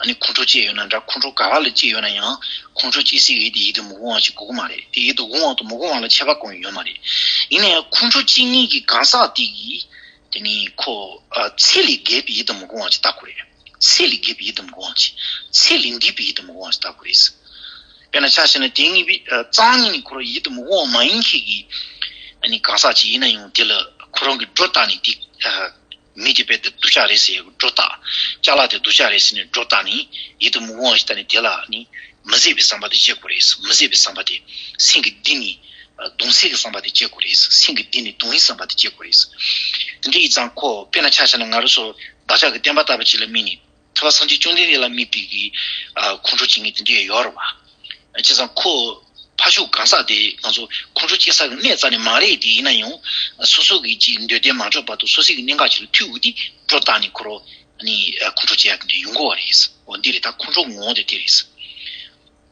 ཨ་ནི་ཁོང་ཁྲོ་སྐྱེས་ཡོད་ན་འདྲ་ཁོང་ཁྲོ་ག་ག་ལ་སྐྱེས་ཡོད་ན་ཡང་ཁོང་ཁྲོ་སྐྱེས་སའི་ཡུལ་དེ་ཡིད་དུ་མི་འོང་བ་ཞིག་དགོས་ཀྱི་མ་རེད་དེ་ཡིད་དུ་འོང་བ་དང་མི་འོང་བ་ལ་ཁྱད་པར་གང་ཡང་ཡོད་མ་རེད། ཡིན་ན་ཡང་ཁོང་ཁྲོ་སྐྱེས་ཉིན་གྱི་གང་ཟག་དེ་ཡིས་དེ་ནི་ཁོ། ཚེ་ལས་བརྒལ་བའི་ཡིད་དུ་མི་འོང་བ་ཞིག་ལྟ་དགོས་རེད། ཚེ་ལས་བརྒལ་བའི་ཡིད་དུ་མི་འོང་བ་ཅི། ཚེ་ལས་འདས་པའི་ཡིད་དུ་མི་འོང་བ་ཞིག་ལྟ་དགོས་རེད། དཔེར་ན་ཆ་བྱས་ན་དེ་གཉིས་པོའི་གཙང་གཉིས་ནི་ཁོ་རང་ཡིད་དུ་མི་འོང་བ་མ་ཡིན་ཁེགས་ཀྱི། ཨ་ནི་གང་ཟག་ཅིག་ཡིན་ན་ཡང་དེ་ལ་ཁོ་རང་གིས་སྒྲོ་བཏགས་ནས་དེ། མིག་གི་དཔེ་དེ་གདུལ་བྱ་རེ་ཟེར་སྒྲོ་བཏགས། ལྕགས་ལ་དེ་གདུལ་བྱ་རེ་ཟེར་ནས་སྒྲོ་བཏགས་ནས། ཡིད་དུ་མི་འོང་བ་ཞིག་བཏགས་ནས་དེ་ལ་ནི། མི་བཟད་པའི་བསམ་པ་དེ་སྐྱེ་དགོས་རེད། མི་བཟད་པའི་བསམ་པ་དེ། སེམས་ཀྱི་སྡིག་ནི། གདུང་སེལ་གྱི་བསམ་པ་དེ་སྐྱེ་དགོས་རེད། སེམས་ཀྱི་སྡིག་ནི་གདུང་བའི་བསམ་པ་དེ་སྐྱེ་དགོས་རེད། འདི་འདྲ་ཡིག་ཚང་ཁོ་དཔེ་ན་ཆགས་བྱས་ན་ང་རོ་སོ་བདག་ཅག་གི་བསྟན་པ་ལྟ་བུ་ཅིག་ལ་སྨིན་ནས། ཐོས་པ་སངས་རྒྱས་བཅོམ་ལྡན་འདས་ལ་དམིགས་པའི་ཁོང་ཁྲོ་བྱེད་ངེས་དོན་དེ་ཡོད་རེད་བ། བྱས་ཙང་ཁོ་ཕ་ཕྱུགས་གང་ཟག་དེ་ང་ཚོ་ཁོང་ཁྲོ་སྐྱེ་ས་གི་གནས་རྩ་ནས་མ་རེད་དེ་ཡིན་ན་ཡང་སོ་སོ་གི་ཅིག་འདོད་དོན་མ་འགྲུབ་བར་དུ་སོ་སི་གི་གནད་འགག་ཅིག་ལ་ཐུག་འུ་དེ་སྤྲོ་བཏང་ནས་ཁོ་རོ་ནི་ཁོང་ཁྲོ་བྱེད་ཡག་གི་འདི་ཡུན་གོ་བ་རེད་འོ་འདི་རེད་ད་ཁོང་ཁྲོ་ངོ་བོ་དེ་དེ་རེད།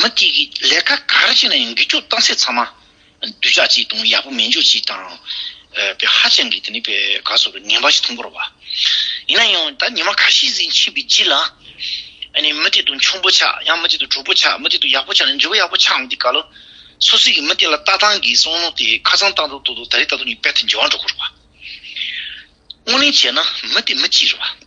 མི་དེ་གིས་ལས་ཀ་ག་རེ་བྱས་ན་ཡང་འགུལ་སྐྱོད་བཏང་ཚད་ཚང་མ་བསྡུ་བྱ་བྱས་དང་ཡག་པོ་སྨན་བཅོས་བྱས་དང། བས་ཧ་ཅང་གི་དེ་ནས་བས་ག་ཚོད་ཀྱི་ངན་པ་ཞིག་ཐོན་པོ་རོགས་པ། ཡིན་ན་ཡང་ད་ཉི་མ་ཁ་ཤས་ཟིག་ཕྱིན་པའི་རྗེས་ལ། ནས་མི་དེ་དང་ཆུང་པོ་ཆགས་ཡང་མི་དེ་དང་གྲོགས་པོ་ཆགས་མི་དེ་དང་ཡག་པོ་ཆགས་ནས་འབྲས་བུ་ཡག་པོ་ཆགས་འོང་དུས་ག་ལོ། སོ་སོས་ཀྱིས་མི་དེ་ལ་ལྟ་སྟངས་ཀྱིས་སང་ལོ་དེ་ཁ་ཚང་བཏང་འགྲོ་ཐུག་ཐུག་ད་རེས་ད་དུང་ནས་བས་དེ་འཇོག་འགྲོ་དགོས་རོགས་པ། དངོས་གནས་བྱས་ན་མི་དེ་མི་གཅིག་རེད་པ།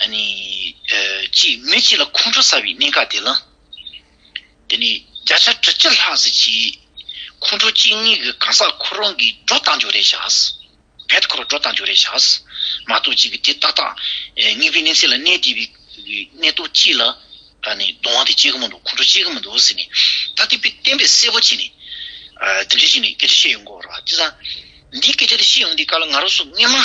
ཅེས་སྨྲས་ཅི་ལ་ཁོང་ཁྲོ་ཟ་བའི་གནས་འགགས་དེ་ལ། དེ་ནས་བརྒྱ་ཆ་དྲུག་ཅུ་ལྷག་ཟིག་ཅེས་ཁོང་ཁྲོ་གཅིག་གཉིས་ཀྱི་གང་ཟག་ཁོ་རང་གིས་སྒྲོ་བཏགས་འཇོག་རེ་བྱས། བད་ཁོ་རང་སྒྲོ་བཏགས་འཇོག་རེ་བྱས། མ་གཏོགས་ཅིག་གིས་དེ་ཏག་ཏག་གཉིས་པའི་གནས་ཚད་ལ་གནས་དེ་བའི་གནས་སྟོབས་གཅིག་ལ་གདོང་བ་དེ་གཅིག་གི་མ་འདུག་ཁོང་ཁྲོ་གཅིག་གི་མ་འདུག་ཟེར་ནས་ད་ལྟའི་བའི་བསྟན་པའི་གསལ་པོ་བྱས་ནས་དེ་འདྲ་བྱས་ནས་སྐད་ཆ་བཤད་ཡོང་གི་འོ་ར། དེ་ད་འདིའི་སྐད་ཆ་འདི་བཤད་ཡོང་དུས་སྐབས་ལ་ང་རང་སོགས་རྔན་མ།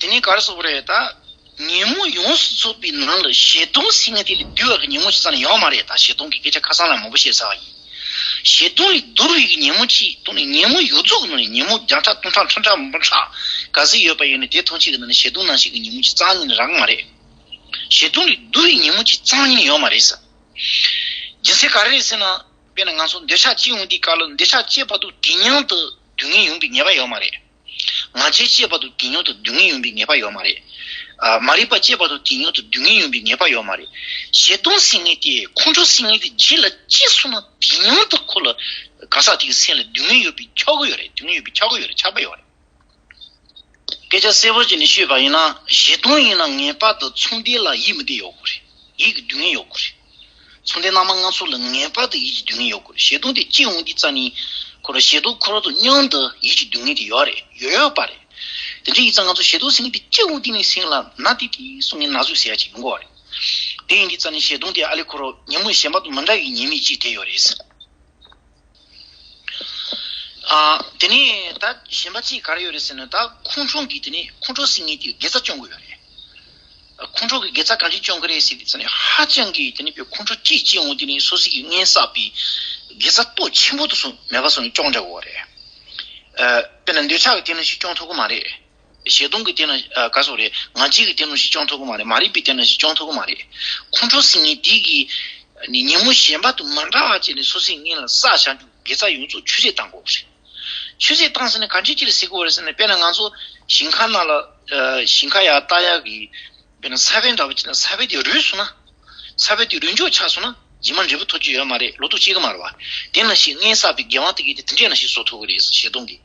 དེ་ནས་ག་རེ་གསུངས་པ་རེད་ད། ཉིན་མོ་ཡོངས་སུ་རྫོགས་པའི་ནང་ལ་བཞེད་སྟོང་ཟིན་ན་དེ་ལས་བསྡུ་བ་གི་ཉིན་མོ་ཅིག་ཙམ་ལས་ཡོད་མ་རེད་ད་བཞེད་སྟོང་གི་སྐད་ཆ་ཁ་སང་ལ་མང་པོ་བཤད་ཚར་བ་ཡིན། བཞེད་སྟོང་ལས་བསྡུ་བའི་གི་ཉིན་མོ་གཅིག་སྟོང་ནས་ཉིན་མོ་ཡོད་རྫོགས་གི་ནང་ནས་ཉིན་མོ་བརྒྱ་ཕྲག་སྟོང་ཕྲག་ཁྲི་ཕྲག་འབུམ་ཕྲག་ག་ཟིག་ཡོད་པ་ཡིན་ནི་དེ་ཐོང་ཆེ་གི་ནང་ནས་བཞེད་སྟོང་ནང་བཞིན་གི་ཉིན་མོ་གཅིག་ཙང་ཉིན་རག་མ་རེད། བཞེད་སྟོང་ལས་བསྡུ་བའི་ཉིན་མོ་གཅིག་ཙང་ཉིན་ཡོད་མ་རེད། སྦྱིན་སྲེག་ག་རེ་རེད་ཟེར་ན། དཔེར་ན་ང་ཚོ་འདོད་ཆགས་སྐྱེས་འོང་དུས་དཀའ་ལོ་འདོད་ཆགས་སྐྱེས་བར་དུ་དེ་སྙིང་དུ་སྡུག་བསྔལ་ཡོང་པའི་ངེས་པ་ཡོད་མ་རེད། ང་རྒྱལ་སྐྱེས་བར་དུ་དེ་སྙིང་དུ་སྡུག་བསྔལ་ཡོང་པའི་ངེས་པ་ཡོད་མ་རེད། མ་རིག་པ་སྐྱེས་བར་དུ་དེ་སྙིང་དུ་སྡུག་བསྔལ་ཡོང་པའི་ངེས་པ་ཡོད་མ་རེད། བྱེད་སྟངས་སེལ་ངེས་ཏེ་ཁོང་ཁྲོ་སེལ་ངེས་ཏེ་རྗེས་ལ་ཅི་གསུང་ན་དེ་སྙིང་དུ་ཁོ་ལ་གང་ཟག་དེའི་སེམས་ལ་སྡུག་བསྔལ་ཡོད་པའི་ཆག་སྒོ་ཡོད་རེད་སྡུག་བསྔལ་ཡོད་པའི་ཆག་སྒོ་ཡོད་རེད་ཆགས་པ་ཡོད་རེད། སྐད་ཆ་གསལ་བོ་ཅིག་ནས་ཤོད་པ་ཡིན་ན་བཞི་སྟོང་ཡིན་ན་ངེས་པར་དུ་ཚོང་སྡེ་ལ་ཡིད་མི་བདེ་ཡོད་དགོས་རེད། ཡིད་ཀྱི་སྡུག་བསྔལ་ཡོད་དགོས་རེད། ཚོང་སྡེ་རྣམ་མང་སྣ་ཚོགས་ལ་ངེས་པར་དུ་ཡིད་ཀྱི་སྡུག་བསྔལ་ཡོད་དགོས་རེད་བཞི་སྟོང་དེ་སྐྱེས་འོང་གི་རྩ་ནི། ཁོ་རང་བཞི་སྟོང་ཁོ་རང་དུ་སྙམ་དུ་ཡིད་ཀྱི་སྡུག་བསྔལ་དེ་ཡོད་རེད་ཡོད་ཡོད་པ་རེད། དེ་འདྲའི་ཡིད་རྩ་ང་ཚོ་བཞི་སྟོང་ཟེར་མཁན་དེ་སྐྱེས་འོང་དུས་ནས་ཟིན་ལ་ན་དེ་དེའི་གསུང་ངན་ན་ཟུག་ཟེར་ཡ་གཅིག་ཡོང་གི་འོ་རེད། དེ་ཡིན་གྱི་རྩ་ནི་བཞི་སྟོང་དེ་ཨ་ལེ་ཁོ་རང་ཉིན་མོ་གཞན་པ་དང་མི་འདྲ་བའི་ཉེས་དམིགས་གཅིག་དེ་ཡོད་རེད། དེ་ནས་ད་གཞན་པ་གཅིག་གར་ཡོད་རེད་ཟེར་ན་ད་ཁོང་ཁྲོ་གིས་དེ་ནས་ཁོང་ཁྲོ་ཟིག་ངས་དེ་དགེ་རྩ་སྐྱོང་གི་ཡོད་རེད། ཁོང་ཁྲོ་གིས་དགེ་རྩ་གང་ཅི་སྐྱོང་གི་རེད་ཟེར་གི་ཟེར་ནས་ཧ་ཅང་གིས་དེ་ནས་བུ་ཁོང་ཁྲོ་ཅིག་སྐྱེས་འོང་དེ་ནས་སོ་སི་གིས་ངན་བསགས་པའི་དགེ་རྩ་ལྟོ་ཆེན་པོ་དུ་སོང་མེད་པ་སོང་ནས་སྐྱོང་འདྲ་གི་འོ་རེད། དཔེར་ན་འདོད་ཆགས་ཀྱི་དེ་ནས་ཞིག་སྐྱོང་ཐུབ་གི་མ་རེད། ཞལ་གདོང་གི་སྟེང་ན་ག་སོགས་རེད། ང་རྒྱལ་གྱི་སྟེང་ན་ཞིག་ཅང་ཐོག་གི་མ་རེད་མ་རིག་པའི་སྟེང་ན་ཞིག་ཅང་ཐོག་གི་མ་རེད། ཁོང་ཁྲོ་སེང་ངེ་དེ་གི། ཉིན་མོ་གཞན་པ་དང་མ་འདྲ་བ་བྱས་ནས་སོ་སེང་ངེ་ལ་ས་བྱ་འཇུག་དགེ་རྩ་ཡོངས་རྫོགས་ཆུད་ཟས་བཏང་དགོས་པ་རེད། ཆུད་ཟས་བཏང་ཟེར་ནས་ག་འདྲའི་ཁྱི་ལ་ཟེར་དགོས་པ་རེད་ཟེར་ན་དཔེར་ན་ང་ཚོ་ཞིང་ཁ་ན་ལ། ཞིང་ཁ་ཡག་རྟ་ཡག་གི། དཔེར་ན་ས་བོན་འདྲ་བོ་བྱས་ན་ས་བོན་དེ་རུལ་སོང་ན། ས་བོན་དེ་རུལ་མགྱོགས་ཆགས་སོང་ན་རྗེས་མ་འབྲས་བུ་ཐོགས་རྒྱུ་ཡོད་མ་རེད་ལོ་ཏོག་སྐྱེ་གི་མ་རེད་བ། དེ་ན་ཞིག་ངའི་ས་བོན་རྒྱལ་དབང་དེ་གས་དེ་དེ་འདྲས་ན་ཞིག་བཟོ་ཐུབ་གི་རེད་ཟེར་ཞལ་གདོང་གིས།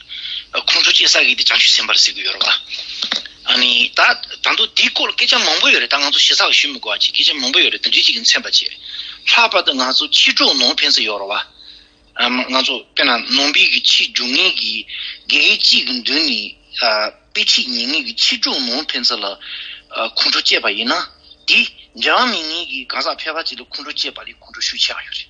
ཁོང་ཚོ་སྐྱེས་ས་གིས་དེ་ཅང་ཞུས་ཟིན་པར་གཟིགས་གི་ཡོད་རེད་བ། ཨ་ནི། ད་ད་དུང་དེའི་སྐོར་སྐད་ཆ་མང་པོ་ཡོད་རེད་ད་ང་ཚོ་ཞེ་ས་ལ་ཞུས་མི་དགོས་བ་ཅིག་སྐད་ཆ་མང་པོ་ཡོད་རེད་འདི་འདྲའི་ཅིག་གི་མཚན་པ་ཅིག། ལྷག་པར་དུ་ང་ཚོ་ཕྱི་དྲོ་ནོང་ཕན་ཚུ་ཡོད་རེད་བ། ང་ཚོ་དཔེར་ན་ནོང་པིག་གི་ཕྱི་རྒྱུག་ངེད་ཀྱི་དགེ་རྒན་གཅིག་གི་མདུན་ནས་དཔེ་ཁྲིད་ཉེ་ངེད་ཀྱི་ཕྱི་དྲོ་ནོང་ཕན་ཚུ་ལ་ཁོང་ཁྲོ་སྐྱེས་པ་ཡིན་ན་དེ་འབྲེལ་བ་མེད་ངེད་ཀྱི་གང་ཟག་ཕལ་བ་ཅིག་ལ་ཁོང་ཁྲོ་སྐྱེས་པ་ལས་ཁོང་ཁྲོ་ཤུགས་ཆེ་ཡང་ཡོད་རེད།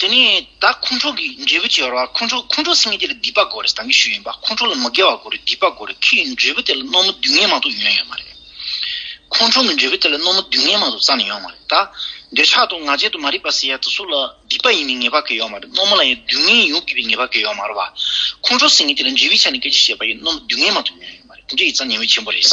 དེ་ནས་ད་ཁོང་ཁྲོ་གི་འབྲས་བུ་ཅི་ཡོད་ར་ཁོང་ཁྲོ་ཁོང་ཁྲོ་སྲིད་ངན་དེ་ལ་སྡིག་པ་གོ་རེས་དང་གི་ཞུས་ཡིན་པ་ཁོང་ཁྲོ་ལ་མི་དགེ་བ་གོ་རེས་སྡིག་པ་གོ་རེས་ཁྱི་ཡི་འབྲས་བུ་དེ་ལ་རྣོ་མི་སྡུག་བསྔལ་མང་དུ་ཡོན་ཡོད་མ་རེད། ཁོང་ཁྲོ་གི་འབྲས་བུ་དེ་ལ་རྣོ་མི་སྡུག་བསྔལ་མང་དུ་རྩ་ནས་ཡོང་མ་རེད་ད། འདོད་ཆགས་དང་ང་རྒྱལ་དུ་མ་རིག་པ་སྲིད་ཡ་དུ་སུ་ལ་སྡིག་པ་ཡིན་མིན་ངེས་པ་གི་ཡོད་མ་རེད་རྣོ་མི་ལ་ཡང་སྡུག་བསྔལ་ཡོང་གི་པའི་ངེས་པ་གི་ཡོད་མ་རེད་བ། ཁོང་ཁྲོ་སྲིད་ངན་དེ་ལ་འབྲས་བུའི་ཆ་ནས་སྐད་ཅིག་བཤད་པ་ཡིས་རྣོ་མི་སྡུག་བསྔལ་མང་དུ་ཡོན་ཡོད་མ་རེད་དེ་འདྲ་ཡིས་རྩ་ཉེས་མེད་ཆེན་པོ་རེད།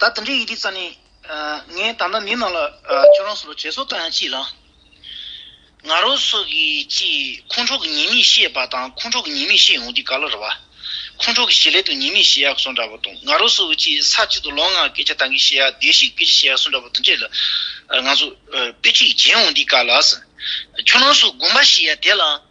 ད་དེ་འདྲའི་ཡི་གེ་རྩ་ནི། ངས་ད་ལྟ་འདི་ན་ལ། ཁྱོད་རང་སོགས་ལ་བྱས་སོ་ད་ཡང་ཅིས་ལ། ང་རོ་སོགས་ཀྱི་ཅིས་ཁོང་ཁྲོ་གི་ཉེས་དམིགས་ཤེས་པ་དང་ཁོང་ཁྲོ་གི་ཉེས་དམིགས་ཤེས་འོང་དུས་ག་ལ་རུ་བ། ཁོང་ཁྲོ་གི་བྱེད་ལས་དང་ཉེས་དམིགས་བྱེད་ཡག་སོགས་འདྲ་པོ་དང་ང་རོ་སོགས་ཀྱི་ཅིས་ས་གཅིག་ཏུ་ལོ་ལྔ་སྐད་ཆ་དང་གི་བྱེད་ཡག་བདེ་གཤེགས་སྐད་ཆ་བྱེད་ཡག་སོགས་འདྲ་པོ་དེ་འདྲས་ལ། ང་ཚོ་དཔེ་ཁྲིད་བྱས་འོང་དུས་ག་ལ། ཁྱོད་རང་སོགས་དགོན་པ་ཞིག་ཡ་དེ་ལ།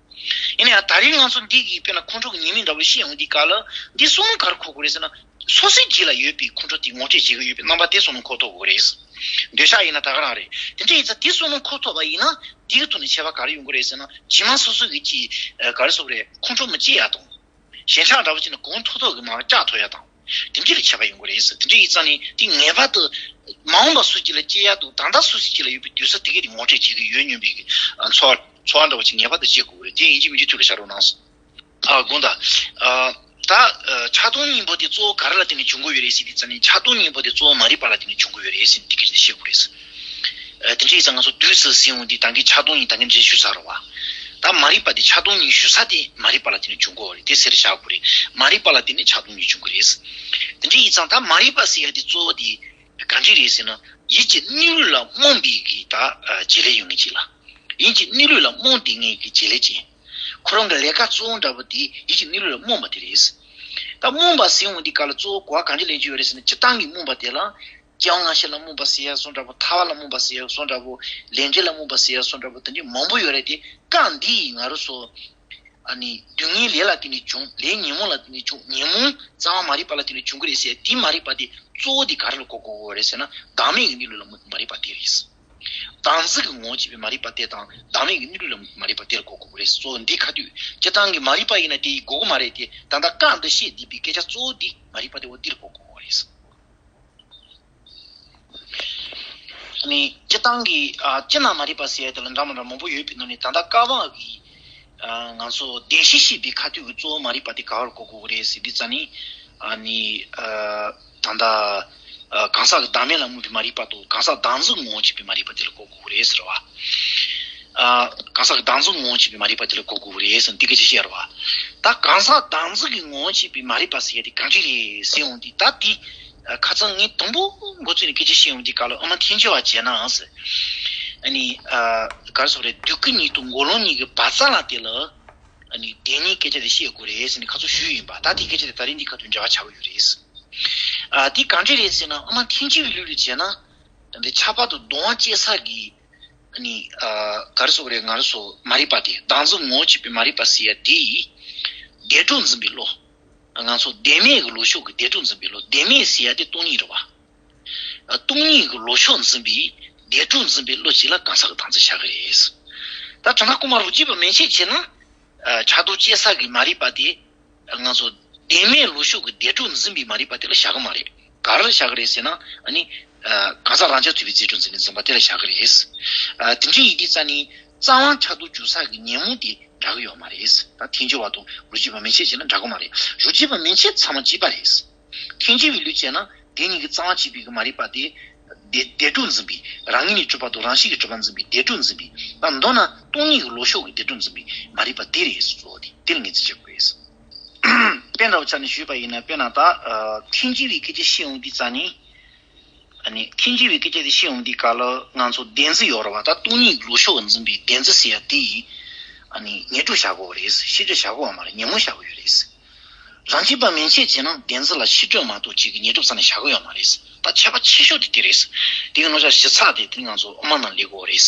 ཡིན་ན་ཡང་ད་རིང་ང་ཚོ་འདི་གི་དཔེ་ན་ཁོང་ཁྲོ་གི་ཉེས་མིང་འདྲ་བོ་ཤི་ཡོང་གི་འདུག་ག་ལ་འདི་གསུམ་མོ་གར་འཁོར་དགོས་རེད་ཟེར་ན། སོ་སོའི་རྗེས་ལ་ཡོད་པའི་ཁོང་ཁྲོ་དེ་ངོ་སྤྲོད་བྱེད་ཀྱི་ཡོད་པའི་རྣམ་པ་དེ་གསུམ་མོ་འཁོར་ཐོག་དགོས་རེད། འདོད་ཆགས་ཡིན་ན་ད་ག་རང་རེད། དེ་འདྲ་ཡིན་ཚ་དེ་གསུམ་མོ་འཁོར་ཐོག་པ་ཡིན་ན་འདི་གི་ཐོག་ནས་བྱས་པ་ག་རེ་ཡོང་གི་རེད་ཟེར་ན་ཇི་མ་སོ་སོ་གི་ཀྱི་ག་རེ་སོག་རེད་ཁོང་ཁྲོ་མོ་སྐྱེ་ཡ་དང། ཞེན་ཆགས་འདྲ་བོ་སྐྱེ་ན་གོང་མཐོ་ཐོག་གི་མ་བསྐྱག་ཐོ་ཡ་དང། དེ་འདྲས་ལ་ཁྱད་པར་ཡོད་དགོས་རེད། དེ་འདྲས་ཡིག་ཚང་ནི་དེ་ངེས་པར་དུ། མ་འོངས་པ་སུ་གཅིག་ལ་སྐྱེ་ཡག་འདུག་དང་ལྟ་སུ་སུ་གཅིག་ལ་ཡོད་པའི་དུས་ས་དེ་གས་དེ་ངོ་འཕྲད་བྱེད་ཀྱི་ཡོད་སྙོན་པའི་འཚོ་བ་འཚོ་བ་འདྲ་བ་གཅིག་ངེས་པར་དུ་སྐྱེ་དགོས་རེད་དེ་ཡིན་གཅིག་མིན་གཅིག་ཐུགས་ལ་བཞག་རོགས་གནང། དགོངས་དག། ད། ཆ་སྟོང་སྙིང་པོ་དེ་གཙོ་བོ་ག་རེ་ལ་བརྟེན་ནས་བྱུང་དགོས་ཡོད་རེད་ཟེར་དེ་ཙམ་ནས་ཆ་སྟོང་སྙིང་པོ་དེ་གཙོ་བོ་མ་རིག་པ་ལ་བརྟེན་ནས་བྱུང་དགོས་ཡོད་རེད་ཟེར་ནས་དེ་སྐད་ཅེས་ཤེས་དགོས་རེད། དེ་འདྲ་ཡིན་ཙང་ང་ཚོ་བདུད་རྩི་ཟེར་འོང་དེ་ད་གིན་ཆ་སྟོང་ཡིན་ད་གིན་རེད་ཞུ་ས་རོགས་བ། ད་མ་རིག་པ་དེ་ཆ་སྟོང་ཉིད་ཞུ་ས་དེ་མ་རིག་པ་ལ་དེ་ནི་འཇུག་འགོ་རེད་དེ་ཟེར་བྱ་དགོས་རེད། མ་རིག་པ་ལ་དེ་ནི་ཆ་སྟོང་ཉིད་འཇུག་གི་རེད། དེ་འདྲ་ཡིན་ཙང་ད་མ་རིག་པ་ཟེར་ཡ་དེ་གཙོ་བོ་དེ་གང་ཅི་རེད་ཟེར་ན་ཡིད་ཀྱི་གནས་ལུས་ལ་རྨོངས་པས་གིས་ད་བྱེད་ལས་ཡོང་ངེས་ཅི་ལ། ཡིད་ཀྱི་གནས་ལུས་ལ་རྨོངས་དེ་ངས་གིས་བྱེད་ལས་ཅི། ཁོ་རང་གི་ལས་ཀ་གཙོ་བོ་འདྲ་པོ་དེ་ཡིད་ཀྱི་གནས་ལུས་ལ་རྨོངས་པ་དེ་རེད། ད་རྨོངས་པ་ཟེར་འོང་དེ་ག་ལ་གཙོ་བོ་གོ་བ་གང་ཅི་ལེན་རྒྱུ་ཡོད་རེད་ཟེར་ན་སྤྱི་བཏང་གི་རྨོངས་པ་དེ་ལ་རྐྱེན་ལྔ་ཤེས་ལ་སྨོན་པ་བསལ་ཡག་སོ་འདྲ་པོ་ཐར་བ་ལ་སྨོན་པ་བསལ་ཡག་སོ་འདྲ་པོ་ལས་འབྲས་ལ་སྨོན་པ་བསལ་ཡག་སོ་འདྲ་པོ་དེ་འདྲའི་མང་པོ་ཡོད་རེད་དེ་རྐང་འདི་ཡིས་ང་རོ་སོ། དུས་ངན་ལས་ལ་དེ་ནས་བྱུང་ལས་ཉིན་མོ་ལ་དེ་ནས་བྱུང་ཉིན་མོ་རྩ་བ་མ་རིག་པ་ལ་དེ་ནས་བྱུང་གི་རེད་ཟེར་དེ་མ་རིག་པ་དེ་གཙོ་བོ་དེ་ག་རེ་ལ་གོ་གོ་རེད་ཟེར་ན་བདག་མེད་ཀྱི་གནས་ལུགས་ལ་མ་རིག་པ་དེ་རེད། བདག་འཛིན་གྱི་ངོ་བོ་བྱེད་པའི་མ་རིག་པ་དེ་དང་བདག་མེད་ཀྱི་གནས་ལུགས་ལ་མ་རིག་པ་དེ་ལ་གོ་གོ་རེད་གཙོ་བོ་འདི་ཁ་དུས་ཀྱི་སྟངས་ཀྱི་མ་རིག་པ་ཡིན་ན་དེ་ཡིས་གོ་གོ་མ་རེད་དེ་ད་ལྟ་རྐང་འདི་ཤེས་འདི་པའི་སྐད་ཆ་གཙོ་བོ་འདི་མ་རིག་པ་དེ་འོ་འདི་ལ་གོ་གོ་རེད། སྤྱི་བཏང་གི་སྤྱི་རྣམས་མ་རིག་པ་སེལ་དེ་ལ་འདྲ་མི་འདྲ་མང་པོ་ཡོད་པའི་ནང་ནས་ད་ལྟ་བཀའ་དབང་གིས་ང་ཚོ་བདེན་བཞི་ཤེས་པའི་ཁ་ཐུག་གི་གཙོ་བོ་མ་རིག་པ་དེ་ག་བར་གོ་དགོས་ཀྱི་རེད་ཟེར་དུས་ཙཱ་ནི་ད་ལྟ་གང་ཟག་གི་བདག་མེད་ལ་སྨོན་པའི་མ་རིག་པ་དང་གང་ཟག་བདག་འཛིན་ངོ་བོ་ཅན་པའི་མ་རིག་པ་དེ་ལ་གོ་དགོས་དགོས་རེད་ཟེར་བ། གང་ཟག་གི་སྡང་ཟུག་ངོ་བོ་ཅི་པའི་མ་རིག་པ་དེ་ལ་གོ་དགོས་པ་རེད་ཟེར་འདི་ག་ཅི་ཤེས་ཡར་བ། ད་གང་ཟག་སྡང་ཟུག་གི་ངོ་བོ་ཅི་པའི་མ་རིག་པ་ཟེར་ཡ་དེ་གང་གི་རེད་ཟེར་འོང་དུས་ད་དེ་ཁ་ཚང་ངས་དང་པོ་མགོ་བཙུགས་ནས་སྐད་ཆ་བཤད་འོང་དུས་ག་ལ་ཨ་མ་ཐེན་ཆེ་བ་བྱས་ནའང་ཟེར། ཨཱ་ནི། ག་རེ་སོགས་རེད་བདུད་རྐུན་ཉིད་དུ་མགོ་ལོང་གཉིས་ཀྱི་བ་ཙག་ལ་དེ་ལ། ཨཱ་ནི། བདེན་གཉིས་སྐད་ཆ་དེ་བཤད་དགོས་རེད་ཟེར་ནས་ཁ་ཚུགས་ཞུས་ཡིན་པ་ད་དེ་སྐད་ཆ་དེ་ད་རེས་འདི་ག་དུས་འདྲ་བ་ཆགས་ཀྱི་ཡོད་རེད་ཟེར། དེ་གང་གི་རེད་ཟེར་ན་ཨ་མ་ཐེན་ཆེ་བའི་ལུགས་ལས་བྱས་ན། འདི་ཆ་བར་དུ་གདུང་བ་སྐྱེས་ས་གི། ནི། ག་རེ་སོགས་རེ་ང་རེ་སོགས་མ་རིག་པ་དེ་བདག་འཛིན་ངོ་བྱེད་པའི་མ་རིག་པ་ཟེར་ཡ་དེ་ཡིས། བདེ་སྒྲུག་འཛིན་པའི་བློ། ང་ཚོ་བདེན་མེད་ཀྱི་ལོ་ཤོག་གི་བདེ་སྒྲུག་འཛིན་པའི་བློ་བདེན་མེད་ཟེར་ཡ་དེ་སྟོང་ཉིད་རེད་བ། སྟོང་ཉིད་ཀྱི་ལོ་ཤོག་འཛིན་པའི་བདེ་སྒྲུག་འཛིན་པའི་བློ་ཞིག་ལ་གང་ཟག་གི་དྭངས་རྩལ་བྱ་གི་རེད། ད་དྲ་ནག་དཀོན་མ་རུ་བརྗེས་པ་མན་ཆད་བྱས་ན། བྱ་དུག་སྐྱེས་ས་གི་མ་རིག་པ་དེ། ང་ཚོ་བདེན་མེད་ལུག་ཤུགས་ཀྱི་བདེ་སྒྲུག་འཛིན་པའི་མ་རིག་པ་དེ་ལ་བཞག་གི་མ་རེད། ག་རེ་ལ་བཞག་གི་རེད་ཟེར་ན། གང་ཟག་རང་ཅག་ཐུབ་པའི་རྩིས་སྤྲོད་འཛིན་པའི་འཛིན་པ་དེ་ལ་བཞག་གི་རེད། དེ་འདྲའི་ཡི་གེ་རྩ་ནི་རྩ་དབང་ཕྲག་དོག་ཇུ་ཚག་གི་ཉན་མོ་དེ་འདྲ་གི་ཡོད་མ་རེད། ད་ཐེངས་ཇོ་བ་དང་རུ་རྗེས་པ་མན་ཆད་བྱས་ན་འདྲ་གི་མ་རེད། རུ་རྗེས་པ་མན་ཆད་ཚང་མ་བྱིས་པ་རེད། མཁྱེན་སྐྱེ་བའི་ལུས་བཅད་ན། དེ་ཉིད་ཀྱི་རྩ་བ་གཅིག་པུས་ཀྱི་མ་རིག་པ་སྟེ། བདེ་དྲོད་འཛིན་པའི། རང་ཉིད་ནི་སྤྲོས་པ་དང་རང་བཞིན་གྱི་སྤྲོས་པ་འཛིན་པའི་བདེ་དྲོད་འཛིན་པའི། ཡང་མདོར་ན། སྟོང་ཉིད་ཀྱི་ལོ་ཤོག་གི་བདེ་དྲོད་འཛིན་པའི། མ་རིག་པ་དེ་རེད་ཟེར་སོ། དེ་ལ་ངེས་ཚིག་བྱ་དགོས། དཔེ་འདྲ་བོ་ཆ་ནས་ཞུས་པ་ཡིན་ན་དཔེར་ན་དག། མཁྱེན་སྐྱེ་བའི་སྐད་ཅིག་ཤེས་འོང་དུས་རྩ་ནི། ཁྱེད་འཇིགས་བའི་སྐད་ཆ་དེ་བཤད་འོང་དུས་ག་ལ་ང་ཚོ་བདེན་རྫུན་ཡོད་རེད་བ་ད་སྟོང་ཉིད་ལོ་ཤོག་འཛིན་པའི་བདེན་རྫུན་ཟེར་ཡ་དེ་ཡིས་ཉེས་དཀྲུགས་བྱ་དགོས་བ་རེད་ཤེས་རྒྱ་བྱ་དགོས་བ་མ་རེད་ཉིན་མོ་བྱ་དགོས་ཡོད་རེད། རང་ཁྱིམ་པ་མིང་ཆད་བྱས་ན་བདེན་རྫུན་ལ་ཕྱི་དྲོད་མ་གཏོགས་གཅིག་གི་ཉེས་དཀྲུགས་ཙམ་ལས་བྱ་དགོས་ཡོད་མ་རེད་ད་ཁྱད་པ་ཆེ་ཤོས་དེ་དེ་རེད་དེ་གི་ནོར་ཆ་ཞི་ཚགས་དེ་དེ་ང་ཚོ་དབུ་མ་ནང་ལས་དགོས་བ་རེད།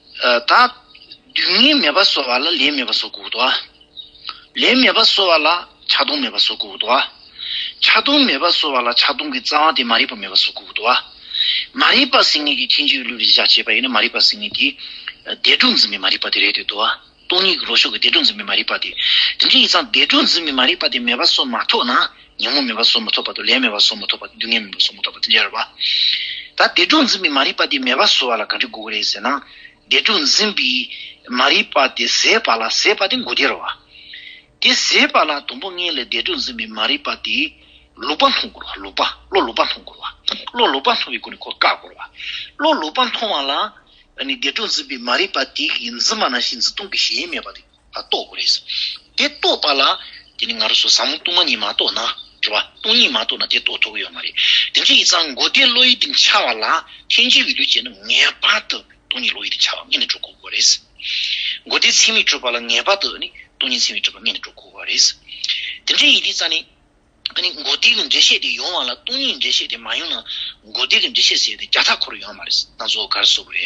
དང། རྡུལ་ངན་མེད་པ་གསོ་བ་ལ་ལས་མེད་པ་བཟོ་དགུ་བསྡུ་བ། ལས་མེད་པ་གསོ་བ་ལ་ཆ་བརྡུང་མེད་པ་བཟོ་དགུ་བསྡུ་བ། ཆ་བརྡུང་མེད་པ་གསོ་བ་ལ་ཆ་བརྡུང་གི་རྩ་བ་དེ་མ་རིག་པ་མེད་པ་བཟོ་དགུ་བསྡུ་བ། མ་རིག་པ་སེལ་ངེས་ཀྱི་མཁྱེན་བརྗོད་ལུས་ལས་བཞག་ཅེས་པ་ཡིན་ན་མ་རིག་པ་སེལ་ངེས་ཀྱི་བདེ་སྡུག་འཛིན་པའི་མ་རིག་པ་དེ་རེད་དེ་བསྡུ་བ། སྟོང་ཉིད་ཀྱི་རོ་མཆོག་གི་བདེ་སྡུག་འཛིན་པའི་མ་རིག་པ་དེ། དེ་འདྲའི་ཡིད་ཚང་བདེ་སྡུག་འཛིན་པའི་མ་རིག་པ་དེ་མེད་པ་སོགས་མ་ཐོག་ན། ཉོན་མོངས་མེད་པ་སོགས་མ་ཐོག་པ་དང་ལས་མེད་པ་སོགས་མ་ཐོག་པ་དང་སྡུག་བསྔལ་མེད་པ་སོགས་མ་ཐོག་པ་དེ་འདྲའི་རེད་བ། ད་བདེ་སྡུག་འཛིན་པའི་མ་རིག་པ་དེ་མེད་པ་བཟོ་བ་ལ་ག་འདྲའི་དགོས་གི་རེད་ཟེར་ན། བདེ་སྡུག་འཛིན་པའི་མ་རིག་པ་དེ་ཟད་པ་ལ་ཟད་པ་དེ་མགོ་བདེ་རེད་བ། དེ་ཟད་པ་ལ་དང་པོ་ལྔའི་ལས་བདེ་སྡུག་འཛིན་པའི་མ་རིག་པ་དེ། ལུག་པ་མཐོང་དགོས་རེད་བ་ལུག་པ་བློ་ལུག་པ་མཐོང་དགོས་རེད་བ། བློ་ལུག་པ་མཐོང་བའི་སྒོ་ནས་འཁོར་བཀག་དགོས་རེད་བ། བློ་ལུག་པ་མཐོང་བ་ལ། ཨ་ནི་བདེ་གྲོགས་འཛིན་པའི་མ་རིག་པ་དེ་གིས་འཛིན་པ་ན་ཤི་འཛིན་སྟོང་གི་ཞེན་མེད་པ་རིག་པ་རྟོགས་པ་རེད། དེ་རྟོགས་པ་ལ། དེ་ནི་ང་རོ་སོགས་ཟབ་མོ་སྟོང་མ་ཉིད་མ་རྟོགས་ན། རེད་པ། སྟོང་ཉིད་མ་རྟོགས་ན་དེ་རྟོགས་ཐུབ་ཀྱི་ཡོད་མ་རེད། དེ་འདྲའི་ཡིད་ཚང་མགོ་བདེ་བློ་ཡིད་དུ་འཆར་བ་ལ་ལྷན་སྐྱེས་ཀྱི་ལུས་ཅན་ནི་ངེས་པར་དུ་སྟོང་ཉིད་བློ་ཡིད་དུ་འཆར་བ་མངལ་ནས་འགྲོ་དགོས་པ་རེད། མགོ་བདེ་མཚན་མེད་གྲུབ་པ་ལ་ངེས་པར་དུ་ནི་སྟོང་ཉིད་མཚན་མེད་གྲུབ་པ་མངལ་ནས་འགྲོ་དགོས་པ་རེད། དེ་འདྲའི་ཡིད་དེ་རྩ་ནས། ཨ་ནི་མགོ་སྟིག་གི་འགྲེལ་བཤད་དེ་ཡོང་བ་ལ་སྟོང་ཉིད་འགྲེལ་བཤད་དེ་མ་ཡོང་ན་མགོ་སྟིག་གི་འགྲེལ་བཤད་ཟེར་ཏེ་བརྒྱ་ཐག་འཁོར་ཡོང་བ་མ་རེད་ཟེར་ན་གཙོ་བོ་ག་རེ་བཟོ་གི་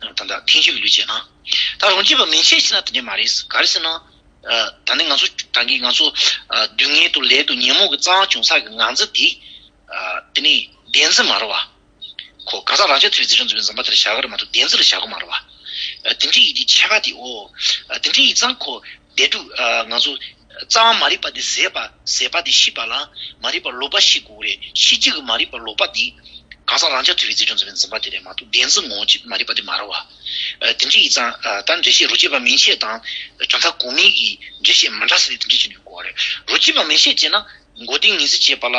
རེད། ད་ལྟ་ཐེངས་ཤིག་ལུས་བྱས་ན། ད་རང་རྒྱལ་བ་མིང་ཆད་ཕྱིན་ན་དེ་འདྲས་མ་རེད་ཟེར་ག་རེ་ཟེར་ན། ད་ནི་ང་ཚོ་ད་གིན་ང་ཚོ་སྡུག་བསྔལ་དུ་ལས་དུ་ཉིན་མོ་གི་གཙང་བ་བྱུང་ས་གི་ངང་ཚུལ་དེ། དེ་ནི་བདེན་ཚིག་མ་རེད་བ། གོ། གང་ཟག་རང་ཆས་ཚུལ་འཛིན་རང་འཛིན་པའི་འཛིན་པ་དེར་བྱ་ག་རེ་མ་ཐུབ་བདེན་ཚིག་ལ་བྱ་གོ་མ་རེ་བ། དེ་འདྲའི་ཡིད་ཀྱི་ཆད་པ་དེ་འོ། དེ་འདྲའི་ཡིད་གཙང་གོ། བདེ་སྡུག་ང་ཚོ། གཙང་བ་མ་རིག་པ་དེ་ཟད་པ། ཟད་པ་དེ་ཤི་བ་ལ། མ་རིག་པ་ལོག་པ་ཤི་དགོ་རེ། ཤི་རྒྱུ་གི་མ་རིག་པ་ལོག་པ་དེ། གང་ཟག་རང་ཆས་ཚུལ་འཛིན་རང་འཛིན་པའི་འཛིན་པ་དེ་རེ་མ་ཐུབ་བདེན་ཚིག་ངོ། མ་རིག་པ་དེ་མ་རེ་བ། དེ་འདྲའི་ཡིད་གཙང། ད་འགྲེལ་བཤད་རོ་གཅིག་པ་མིང་ཆད་དང། བྱ་མཐའ་གོ་མིང་གི་འགྲེལ་བཤད་མ་འདྲ་ས་དེ་དེ་འདྲའི་བྱེད་ནུས་གོ། རོ་གཅིག་པ་མིང་ཆད་ཅེ་ན། མགོ་སྟེང་ངེས་ཚིག་བྱེད་པ་ལ།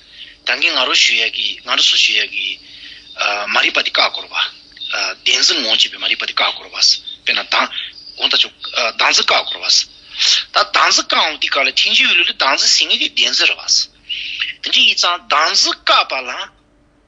བདག་གིས་ང་རོ་ཞུ་ཡ་གི་ང་རོ་སོ་ཞུ་ཡ་གི། མ་རིག་པ་དེ་བཀག་དགོར་བ། བདེན་གཟི་ངོ་བྱེད་པའི་མ་རིག་པ་དེ་བཀག་དགོར་བ། དཔེར་ན་དང། གོང་ལྟར་བྱུང། སྡང་གཟི་བཀག་དགོར་བ། ད་སྡང་གཟི་བཀག་འོང་དེ་ག་ལ་ཐིང་ཆེན་ཡུལ་ལུ་ལས་སྡང་གཟི་ཟིན་ངེས་ཀྱི་བདེན་གཟི་རེད་བ། དེ་འདྲའི་ཡིག་ཚང་སྡང་གཟི་བཀག་པ་ལ།